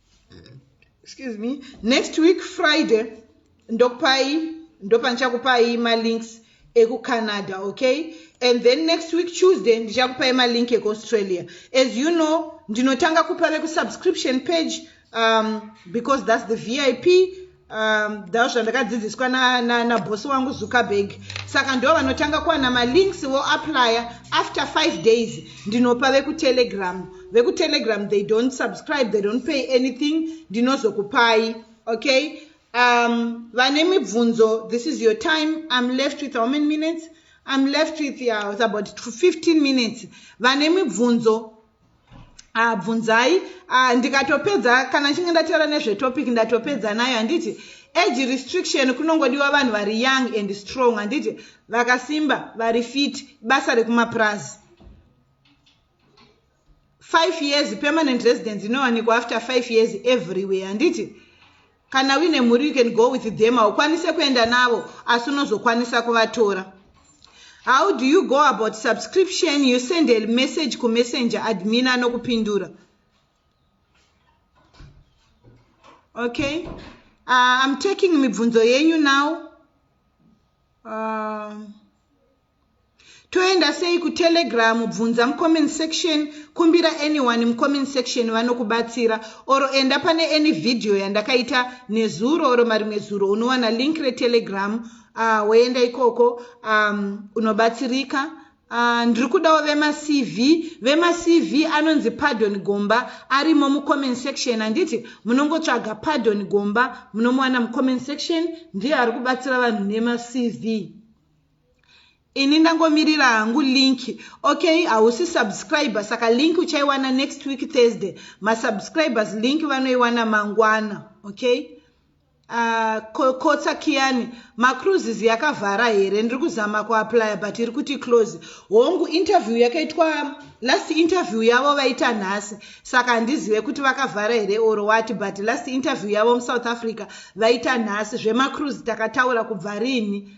S1: excuse me next week friday ndokupai ndopandichakupai malinks ekucanada okay and then next week tuesday ndichakupai malink ekuaustralia as you know ndinotanga kupa vekusubscription page um, because thats the vip um, dha zvandakadzidziswa nabhosi na, na wangu zuckerberg saka ndo vanotanga kuwana malinks voaplya after five days ndinopa vekutelegram vekutelegram they don't subscribe they don't pay anything ndinozokupai okay um, vane mibvunzo this is your time im left with how many minutes im left with yeah, about 15 minutes vane mibvunzo ah, bvunzai ah, ndikatopedza kana chinge ndataura nezvetopic ndatopedza nayo handiti age restriction kunongodiwa vanhu vari young and strong handiti vakasimba vari fit basa rekumapurazi five years permanent residence inowanikwa after five years everywhere handiti kana uine mhuri you can go with them haukwanise kuenda navo asi unozokwanisa kuvatora how do you go about subscription you send a message kumessenger admin anokupindura okay uh, i'm taking mibvunzo yenyu now uh, toenda sei kutelegram bvunza mucomment section kumbira anyone mucomment section vanokubatsira oro enda pane any vhidhiyo yandakaita nezuro oro marimwe zuro unowana link retelegram uh, woenda ikoko um, unobatsirika uh, ndiri kudawo vemacv vemacv anonzi pardon gomba arimo mucomment section handiti munongotsvaga pardon gomba munomuwana mucomment section ndiye ari kubatsira vanhu nemacv ini ndangomirira hangu link okay hausi subscriber saka link uchaiwana next week thursday masubscribers link vanoiwana mangwana okay uh, kotsa kiyani macruises yakavhara here ndiri kuzama kuaplya but iri kuti close hongu interview yakaitwa last interview yavo vaita nhasi saka handizive kuti vakavhara here or wati but last interview yavo musouth africa vaita nhasi zvemacruise takataura kubva rini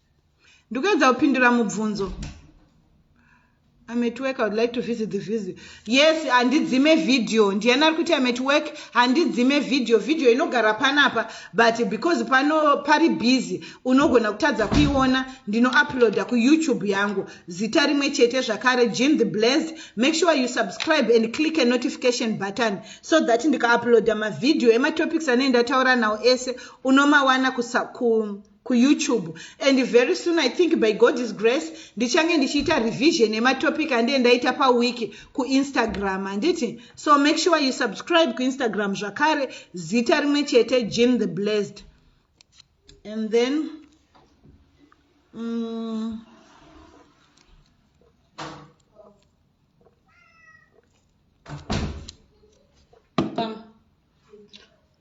S1: ndikuedza kupindura mubvunzo ametwork i would like to visit the visit yes handidzime video ndiyani ari kuti ametwork handidzime video video inogara panapa but because pano pari busy unogona kutadza kuiona ndinouploada kuyoutube yangu zita rimwe chete zvakare jean the blazed make sure you subscribe and click a notification button so that ndikauploada mavideo ematopics anei ndataura nawo ese unomawana kusa ku kuyoutube and very soon i think by god's grace ndichange ndichiita revision yematopic andiye ndaita paweek kuinstagram handiti so make sure you subscribe kuinstagram zvakare zita rimwe chete jean the blessed and then mm,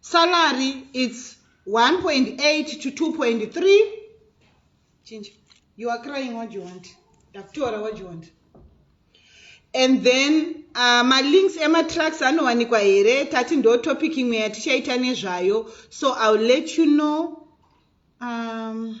S1: Salary it's 1.8 to 2.3. Chinja. You are crying what you want. Dakutora what you want. And then uh, my links ema tracks anowanikwa here tati ndo topic imwe yatichaita nezvayo so I'll let you know um,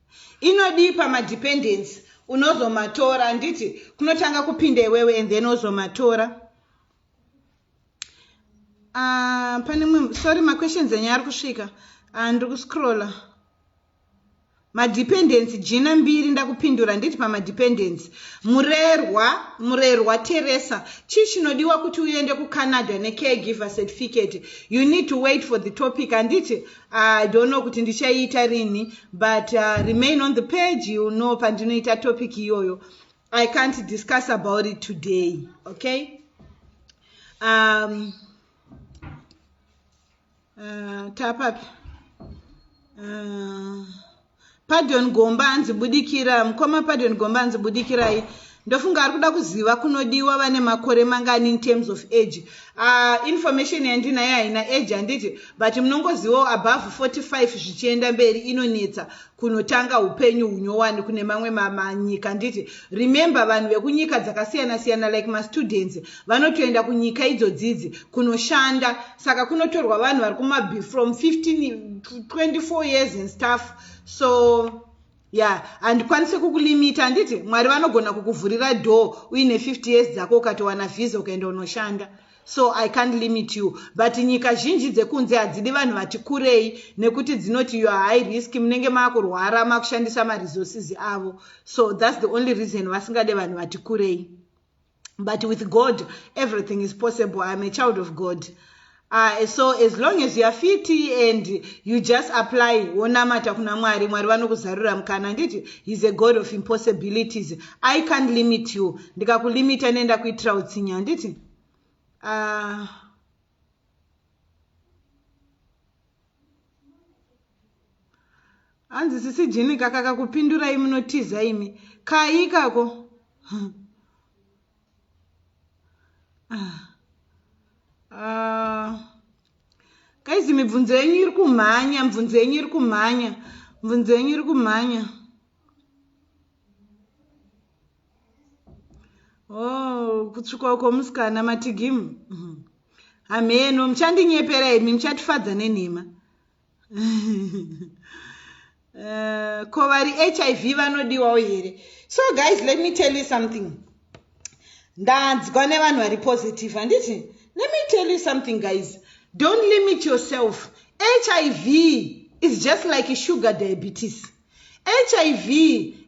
S1: Inodii pama dependency unozomatora handiti kunotanga kupinda iwewe and then ozomatora uh, pane mwe sorry maquestions enyu ari kusvika uh, ndiri kuscrolla madependency jina mbiri ndakupindura nditi pamadependency murerwa murerwa teresa chii chinodiwa kuti uende kucanada necaregiver certificate you need to wait for the topic handiti I don't know kuti ndichaiita rini but uh, remain on the page you know pandinoita topic iyoyo I can't discuss about it today okay um, uh, tapapi uh, Pardon Gomba hanzi budikira. Mkoma Pardon Gomba hanzi budikirai. Ndofunga ari kuda kuziva kunodiwa vane makore mangani in terms of age. Uh, information yandinayo haina age handiti but munongozivawo above 45 zvichienda mberi inonetsa kunotanga upenyu hunyowani kune mamwe manyika handiti. Remember vanhu vekunyika dzakasiyana siyana like mastudents vanotoenda kunyika idzodzidzi kunoshanda saka kunotorwa vanhu vari kumabi from 15 24 years and stuff so ya yeah. handikwanise kukulimita handiti mwari vanogona kukuvhurira door uine 50 years dzako ukatowana vhiza ukaenda unoshanda so i can't limit you but nyika zhinji dzekunze hadzidi vanhu vati kurei nekuti dzinoti your high risk munenge maakurwara makushandisa maresources avo so thats the only reason vasingade vanhu vati kurei but with god everything is possible iam a child of god uh, so as long as youare fiti and you just apply wonamata kuna mwari mwari vanokuzarura mukana handiti heis a god of impossibilities i can't limit you ndikakulimita nenda kuitira utsinya handiti uh, hanzi sisi jini kakaka kupindurai munotiza imi kai ikako hmm. ah. ah. kaizi mibvunzo yenyu iri kumhanya mibvunzo yenyu iri kumhanya mibvunzo yenyu iri kumhanya oh kutsvuka uko musikana matigimu mhm. hamheno muchandinyepera imi muchatifadza nenhema eh, ko vari hiv vanodiwawo here so guys let me tell you something ndanzwa nevanhu vari positive handiti let me tell you something guys don't limit yourself hiv is just like sugar diabetes hiv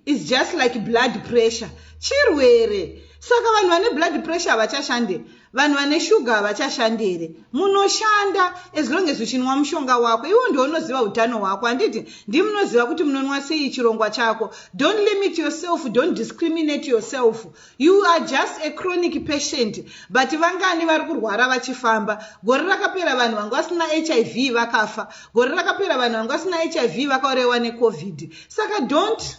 S1: is just like blood pressure chirwere saka vanhu vane blood pressure havachashande vanhu vane shuga havachashande here munoshanda as long as uchinwa mushonga wako iwo ndounoziva utano hwako handiti ndimunoziva kuti munonwa sei chirongwa chako don't limit yourself don't discriminate yourself you are just a chronic patient but vangani vari kurwara vachifamba gore rakapera vanhu vanga vasina hiv vakafa gore rakapera vanhu vanga vasina hiv vakaorewa necovid saka don't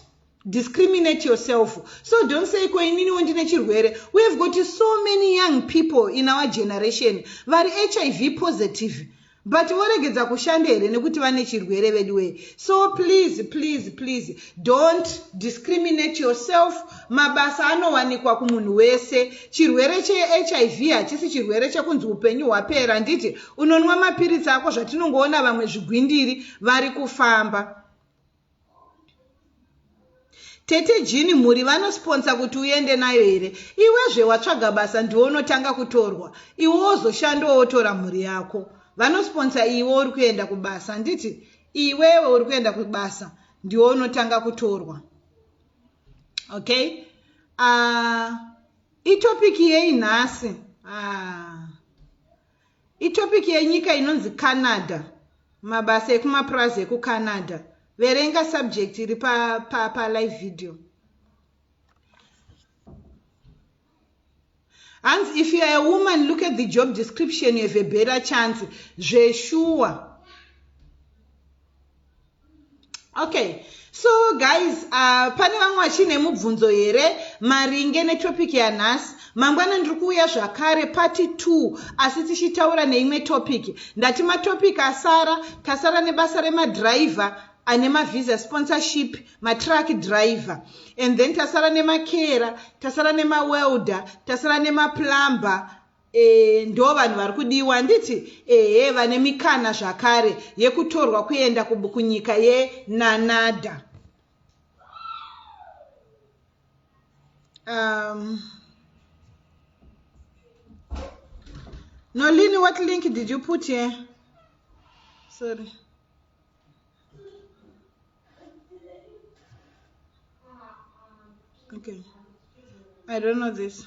S1: discriminate yourself so don't say ko ininiwo ndine chirwere we have got so many young people in our generation vari hiv positive but voregedza kushanda here nekuti vane chirwere veduwee so please please please don't discriminate yourself mabasa anowanikwa kumunhu wese chirwere chehiv hachisi chirwere chekunzi upenyu hwapera handiti unonwa mapiritsi ako zvatinongoona vamwe zvigwindiri vari kufamba tete jini mhuri vanosponsa kuti uende nayo here iwezve watsvaga basa ndiwo unotanga kutorwa iwo wozoshandawo wotora mhuri yako vanosponsa iwe uri kuenda kubasa handiti iwewe uri kuenda kubasa ndiwo unotanga kutorwa okay uh, itopiki yei nhasi ah. Itopic yenyika inonzi Canada. Mabasa ekumapurazi ekuCanada. Verenga subject iri pa, pa, pa live video. Hanzi if you are a woman look at the job description you have a better chance. Zveshuwa. okay so guys uh, pane vamwe vachine mubvunzo here maringe netopic yanhasi mangwana ndiri kuuya zvakare pati t asi tichitaura neimwe topic ndati matopic asara tasara nebasa remadriver ane mavisa sponsorship matruck driver and then tasara nemakera tasara nemawelder tasara nemaplumber Eeh ndo vanhu vari kudiwa handiti ehe vane mikana zvakare yekutorwa kuenda kunyika ye nanada um, nolini what link did you put here sorry okay i don't know this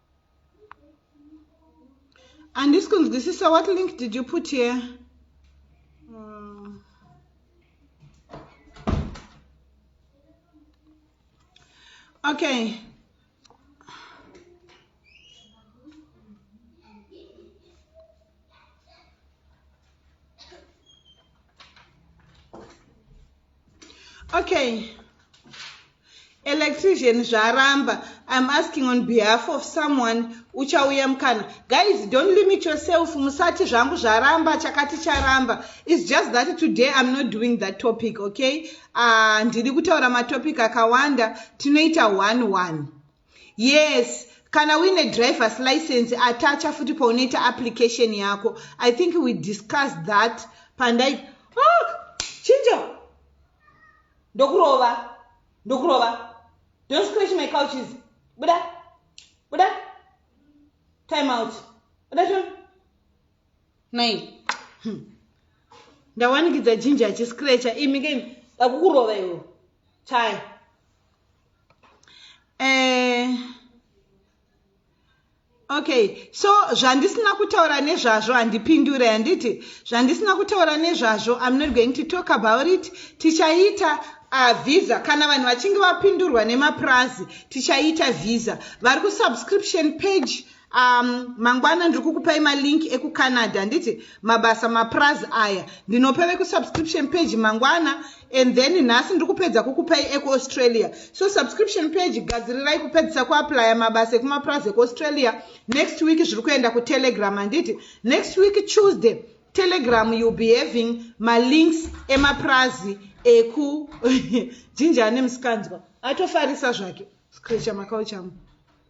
S1: Andisi kunzwisisa what link did you put here? Okay. okay electrician zvaramba i'm asking on behalf of someone uchauya mukana guys don't limit yourself musati zvangu zvaramba chakati charamba its just that today i'm not doing that topic okay ah, ndiri uh, kutaura matopic akawanda tinoita one one yes kana uine drivers license atacha futi paunoita application yako i think we discuss that pandai oh, chinjo ndokurova ndokurova don't scratch my couches buda buda time out buda to nai hmm. ndawanikidza jinja achiscratcha imi kei akukurova iwo chaya eh, okay so zvandisina kutaura nezvazvo handipindure handiti zvandisina kutaura nezvazvo im not going to talk about it tichaita uh, visa kana vanhu vachinge vapindurwa nemapurazi tichaita visa vari kusubscription page um, mangwana ndiri kukupai malink ekucanada handiti mabasa mapraz aya ndinopa vekusubscription page mangwana and then nhasi ndiri kupedza kukupai ekuaustralia so subscription page gadzirirai kupedzisa kuaplya mabasa ekumapraz ekuaustralia next week zviri kuenda kutelegram handiti next week tuesday telegram youll be having malinks emaprazi eku jinja ane musikanzwa atofarisa zvake screcha makauchamu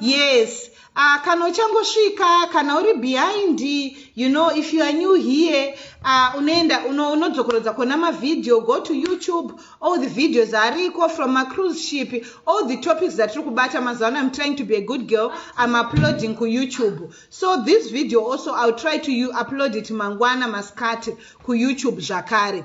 S1: yes uh, kana uchangosvika kana uri behind you know if you are new here uh, unoenda unodzokorodza kona mavhidhiyo go to youtube all the videos ariko from macruise ship all the topics zatiri kubata mazuva ano im trying to be a good girl im uploading kuyoutube so this video also iwill try to upload it mangwana masikati kuyoutube zvakare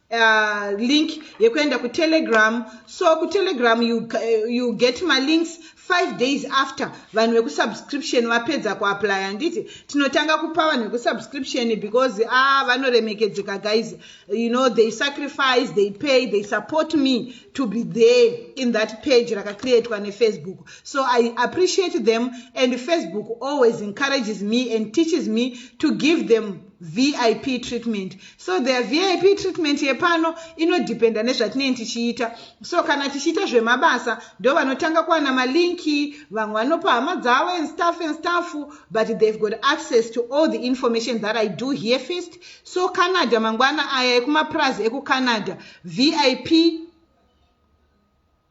S1: Uh, link yekuenda kutelegram so kutelegram you, uh, you get malinks five days after vanhu vekusubscription vapedza kuaplya handiti tinotanga kupa vanhu vekusubscription because a ah, vanoremekedzeka guys you know they sacrifice they pay they support me to be there in that page rakacreatwa nefacebook so i appreciate them and facebook always encourages me and teaches me to give them vip treatment so the vip treatment yepano inodependa nezvatinenge tichiita so kana tichiita zvemabasa ndo vanotanga kuwana malinki vamwe vanopa hama dzavo and staff and staff but they've got access to all the information that i do here first so canada mangwana aya ekumapurazi ekucanada vip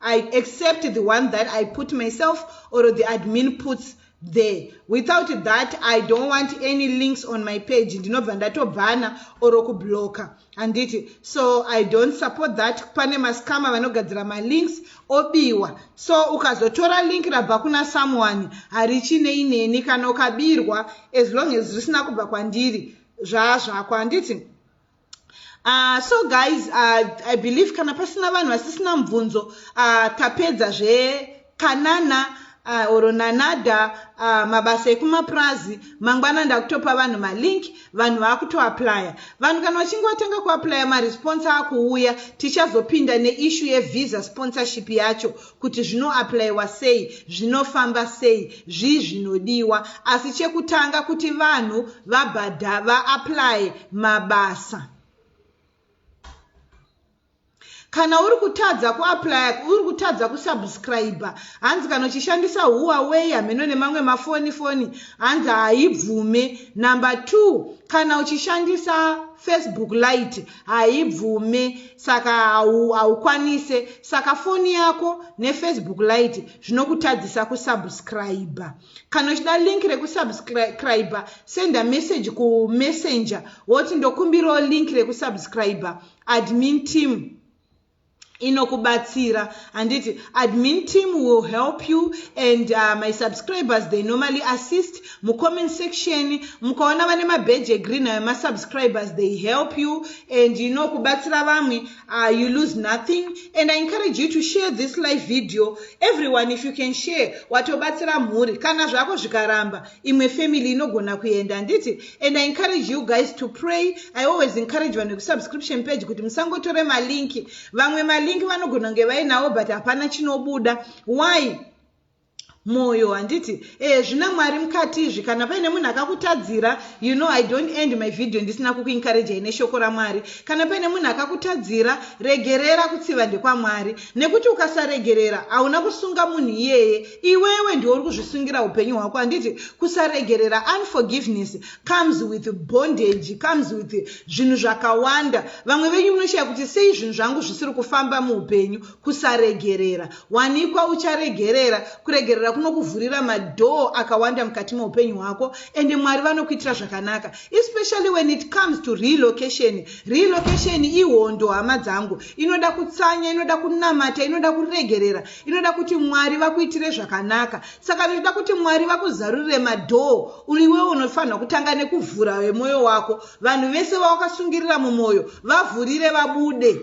S1: I accept the one that I put myself or the admin puts there without that i don't want any links on my page ndinobva ndatobhana or kubloka handiti so i don't support that pane mascama vanogadzira malinks obiwa so ukazotora link rabva kuna someone harichinei ineni kana ukabirwa as long as risina kubva kwandiri zvazvako handiti Uh, so guys uh, i believe kana pasina vanhu vasisina mubvunzo uh, tapedza zvekanana uh, or nanada uh, mabasa ekumapurazi mangwana ndakutopa vanhu malink vanhu vakutoaplya vanhu kana vachinge vatanga kuaplya maresponse akuuya tichazopinda neishu yevisa sponsorship yacho kuti zvinoaplaiwa sei zvinofamba sei zvii zvinodiwa asi chekutanga kuti vanhu vabhadha vaaplaye mabasa kana uri kutadza kuaplaya uri kutadza kusubscribe hanzi kana uchishandisa huaway hameno nemamwe mafoni foni hanzi haibvume number two kana uchishandisa facebook light haibvume saka haukwanise saka foni yako nefacebook lite zvinokutadzisa kusubscribe kana uchida link rekusubscribe senda message kumessenger woti ndokumbirawo link rekusubscribe admin team inokubatsira handiti admin team will help you and uh, my subscribers they normally assist mucomment section mukaona vane mabhedge egreen ayo masubscribers they help you and you know kubatsira vamwe uh, you lose nothing and i encourage you to share this live video everyone if you can share watobatsira mhuri kana zvako zvikaramba imwe family inogona kuenda handiti and i encourage you guys to pray i always encourage vanhu vekusubscription page kuti musangotore malinki vamwe malinki vanogona kunge vainawo but hapana chinobuda why mwoyo handiti e zvina mwari mukati izvi kana paine munhu akakutadzira you know i don't end my video ndisina kukuencouragei neshoko ramwari kana paine munhu akakutadzira regerera kutsiva ndekwamwari nekuti ukasaregerera hauna kusunga munhu iyeye iwewe ndiwe uri kuzvisungira upenyu hwako handiti kusaregerera unforgiveness comes with bondage comes with zvinhu zvakawanda vamwe venyu munoshaya kuti sei zvinhu zvangu zvisiri kufamba muupenyu kusaregerera wanikwa ucharegerera kuregerera kunokuvhurira madhoo akawanda mukati meupenyu hwako ende mwari vanokuitira zvakanaka Especially when it comes to relocation. Relocation ihondo hama dzangu. Inoda kutsanya, inoda kunamata, inoda kuregerera, inoda kuti Mwari vakuitire zvakanaka. Saka inoda kuti Mwari vakuzarurire madoor, uliwe unofanirwa kutanga nekuvhura wemoyo wako. Vanhu vese vawakasungirira mumoyo, vavhurire vabude.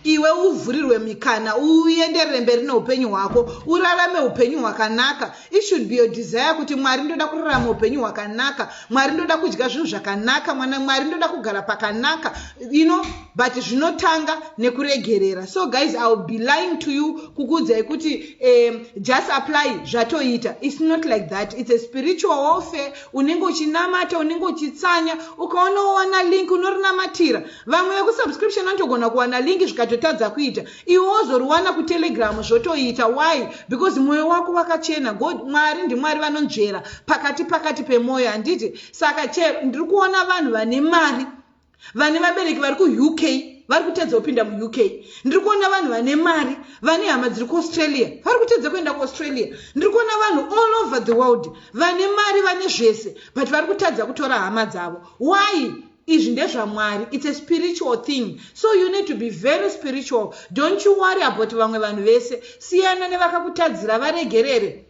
S1: iwe uvhurirwe mikana uenderere mberi neupenyu hwako urarame upenyu hwakanaka it should be your desire kuti mwari ndoda kurarama upenyu hwakanaka mwari ndoda kudya zvinhu zvakanaka mwana mwari ndoda kugara pakanaka you know but zvinotanga nekuregerera so guys i will be lying to you kukuudzai kuti um, just apply zvatoita its not like that its a spiritual warfare unenge uchinamata unenge uchitsanya ukaona wowana link unorinamatira Vamwe vekusubscription vanotogona kuwana link zvikatotadza kuita iwe wozoriwana kutelegram zvotoita why because mwoyo wako wakachena god mwari ndimwari vanonzvera pakati pakati pemwoyo handiti saka che ndiri kuona vanhu vane mari vane vabereki vari kuuk vari kutedza kupinda muuk ndiri kuona vanhu vane mari vane hama dziri kuaustralia vari kutedza kuenda kuaustralia ndiri kuona vanhu all over the world vane mari vane zvese but vari kutadza kutora hama dzavo why izvi ndezvamwari its a spiritual thing so you need to be very spiritual don't you worry about vamwe vanhu vese siyana nevakakutadzira varegerere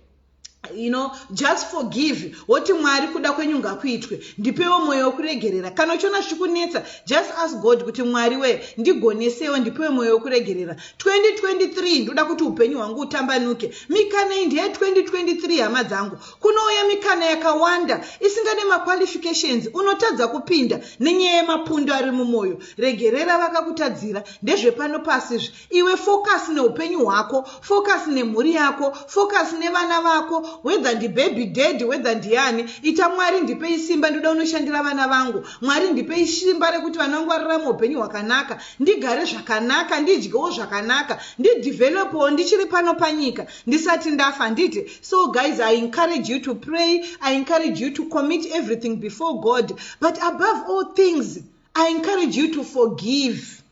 S1: you know just forgive woti mwari kuda kwenyu ngakuitwe ndipewo mwoyo wekuregerera kana uchiona zvichikunetsa just ask god kuti mwari wee ndigonesewo ndipewe mwoyo wekuregerera 2023 ndoda kuti upenyu hwangu utambanuke mikanei ndeye 2023 hama dzangu Kunouya mikana yakawanda isingade maqualifications unotadza kupinda nenyaya yemapundu ari mumoyo. Regerera vakakutadzira ndezvepano pasi izvi. Iwe focus neupenyu hwako, focus nemhuri yako, focus nevana vako whether ndibaby daddy whether ndiani. Ita Mwari ndipei simba ndoda unoshandira vana vangu. Mwari ndipei simba rekuti vana vangu vararame upenyu hwakanaka, ndigare zvakanaka, ndidyewo zvakanaka, ndidevelopewo ndichiri pano panyika. ndisati ndafa handiti so guys i encourage you to pray i encourage you to commit everything before god but above all things i encourage you to forgive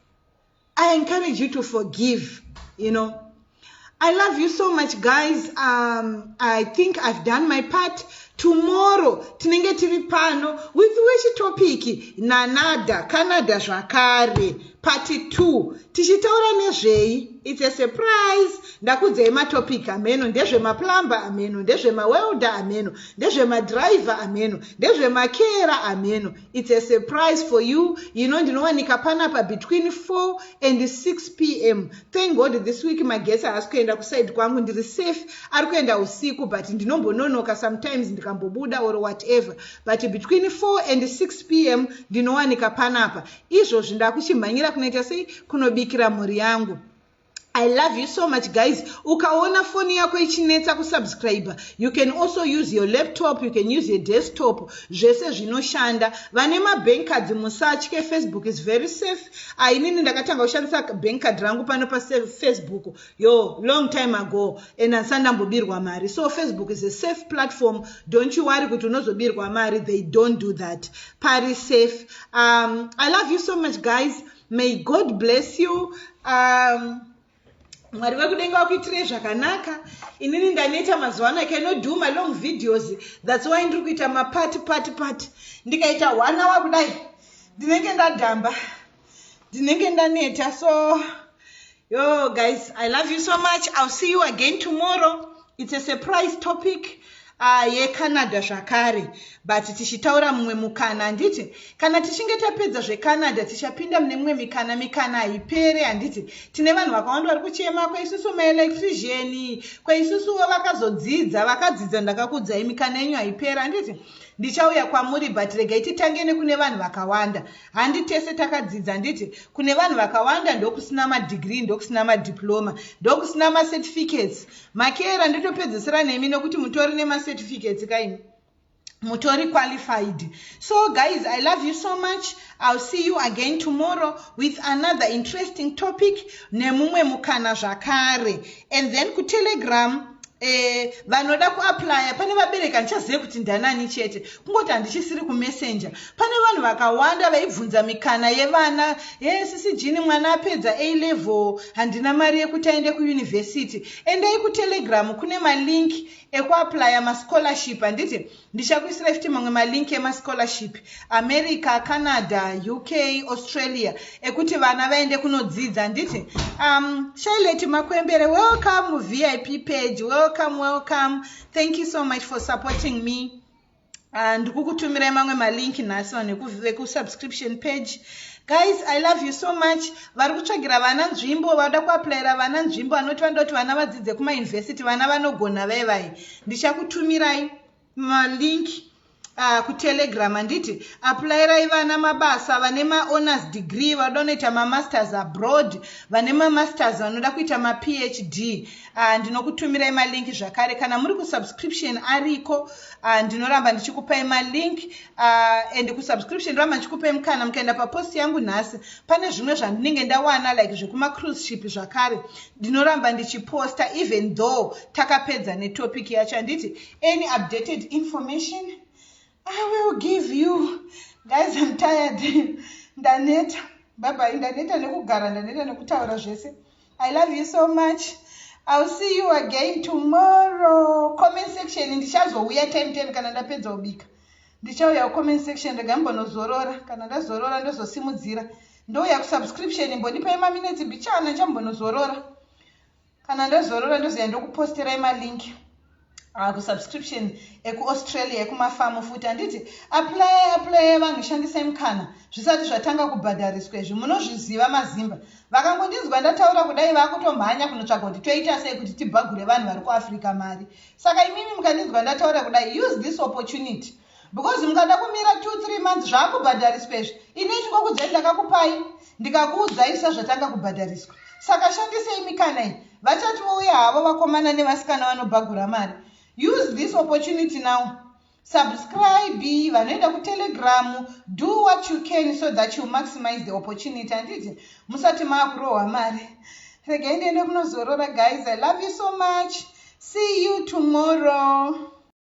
S1: i encourage you to forgive you know i love you so much guys um, i think i've done my part tomorrow tinenge tiri pano with which topic nanada canada zvakare Pati 2 tichitaura nezvei? It's a surprise. Ndakudzei matopic ameno ndezvemaplumber ameno ndezvemawelder ameno ndezvemadriver ameno ndezvemakera ameno. It's a surprise for you. You know ndinowanika panapa between 4 and 6 pm. Thank God this week magesi haasi kuenda kuside kwangu ndiri safe. Ari kuenda usiku but ndinombononoka sometimes ndikambobuda or whatever. But between 4 and 6 pm ndinowanika panapa. izvozvi ndakuchimhanyira kunoita sei kunobikira mhuri yangu i love you so much guys ukaona foni yako ichinetsa kusubscriber you can also use your laptop you can use your desktop zvese zvinoshanda vane mabank cards musatye facebook is very safe ainini ah, ndakatanga kushandisa bank card rangu pano pafacebook yo long time ago and asandambobirwa mari so facebook is a safe platform don't you worry kuti unozobirwa mari they don't do that pari safe um, i love you so much guys may god bless you um, mwari vekudenga vakuitirei zvakanaka inini ndaneta mazuva ano icannot do my long videos thats why ndiri kuita mapati pati pati ndikaita one hour kudai ndinenge ndadhamba ndinenge ndaneta so yo guys i love you so much ill see you again tomorrow it's a surprise topic uh, yecanada zvakare but tichitaura mumwe mukana handiti kana tichinge tapedza zvecanada tichapinda mune mumwe mikana mikana haipere handiti tine vanhu vakawanda vari kuchema kwaisusu maelectrician kwaisusuwo vakazodzidza vakadzidza ndakakudzai mikana yenyu haipere handiti ndichauya kwamuri but regai titange nekune vanhu vakawanda Handi tese takadzidza handiti? Kune vanhu vakawanda ndokusina madegree, ndokusina madiploma, ndokusina macertificates. Makeera ndotopedzesera nemi nokuti mutori nemacertificates kaimi. Mutori qualified. So guys, I love you so much. I'll see you again tomorrow with another interesting topic nemumwe mukana zvakare. and then kutelegram Eh, vanoda kuaplya pane vabereki handichazive kuti ndanani chete kungoti handichisiri kumessenje pane vanhu vakawanda vaibvunza mikana yevana he sisi jini mwana apedza a level handina mari yekuti aende kuyunivhesiti endai kutelegram kune malink ekuaplya mascholarship handiti Ndichakuisirai futi mamwe malink emascholarship America, Canada, UK, Australia ekuti vana vaende kunodzidza handiti? Um, Charlotte Makwembere, welcome muVIP page, welcome, welcome. Thank you so much for supporting me. Uh, ndikukutumirai mamwe malink nhasi vanhu vekusubscription page guys i love you so much vari kutsvagira vana nzvimbo vada kuaplayira vana nzvimbo anoti vanoda kuti vana vadzidze kumayunivhesiti vana vanogona vaivai ndichakutumirai malink uh, kutelegram handiti aplairai vana mabasa vane maowners degree vanoda kunoita mamasters abroad vane mamasters vanoda kuita maphd uh, ah, ndinokutumirai malink zvakare kana muri kusubscription ariko uh, ndinoramba ndichikupai malink uh, and kusubscription ndinoramba ndichikupai mukana mukaenda papost yangu nhasi pane zvimwe zvandinenge ndawana like zvekumacruise ship zvakare ndinoramba ndichiposta even though takapedza netopic yacho handiti any updated information i will give you guys im tired ndaneta byebai ndaneta nekugara ndaneta nekutaura zvese i love you so much ill see you again tomorrow comment section ndichazouya time ten kana ndapedza kubika ndichauya comment section rega mbonozorora kana ndazorora ndozosimudzira ndouya kusubscription imbondipai maminetsi mbichana ndichambonozorora kana ndozorora ndozoya ndokuposterai malink ah, kusubscription ekuaustralia ekumafamu futi handiti apply apply vanhu shandisai mukana zvisati zvatanga kubhadhariswa izvi munozviziva mazimba vakangondinzwa ndataura kudai vakutomhanya kunotsvaga kuti toita sei kuti tibhagure vanhu vari kuafrica mari saka imimi mukandinzwa ndataura kudai use this opportunity because mukada kumira two three months zvaakubhadhariswa izvi ini chikokudzai ndakakupai ndikakuudzai sezvatanga kubhadhariswa saka shandisei mikana iyi vachati vouya havo vakomana nevasikana vanobhagura mari use this opportunity now subscribe vanoenda kutelegram do what you can so that you maximize the opportunity handiti musati maakurohwa mari regai ndiende kunozorora guys i love you so much see you tomorrow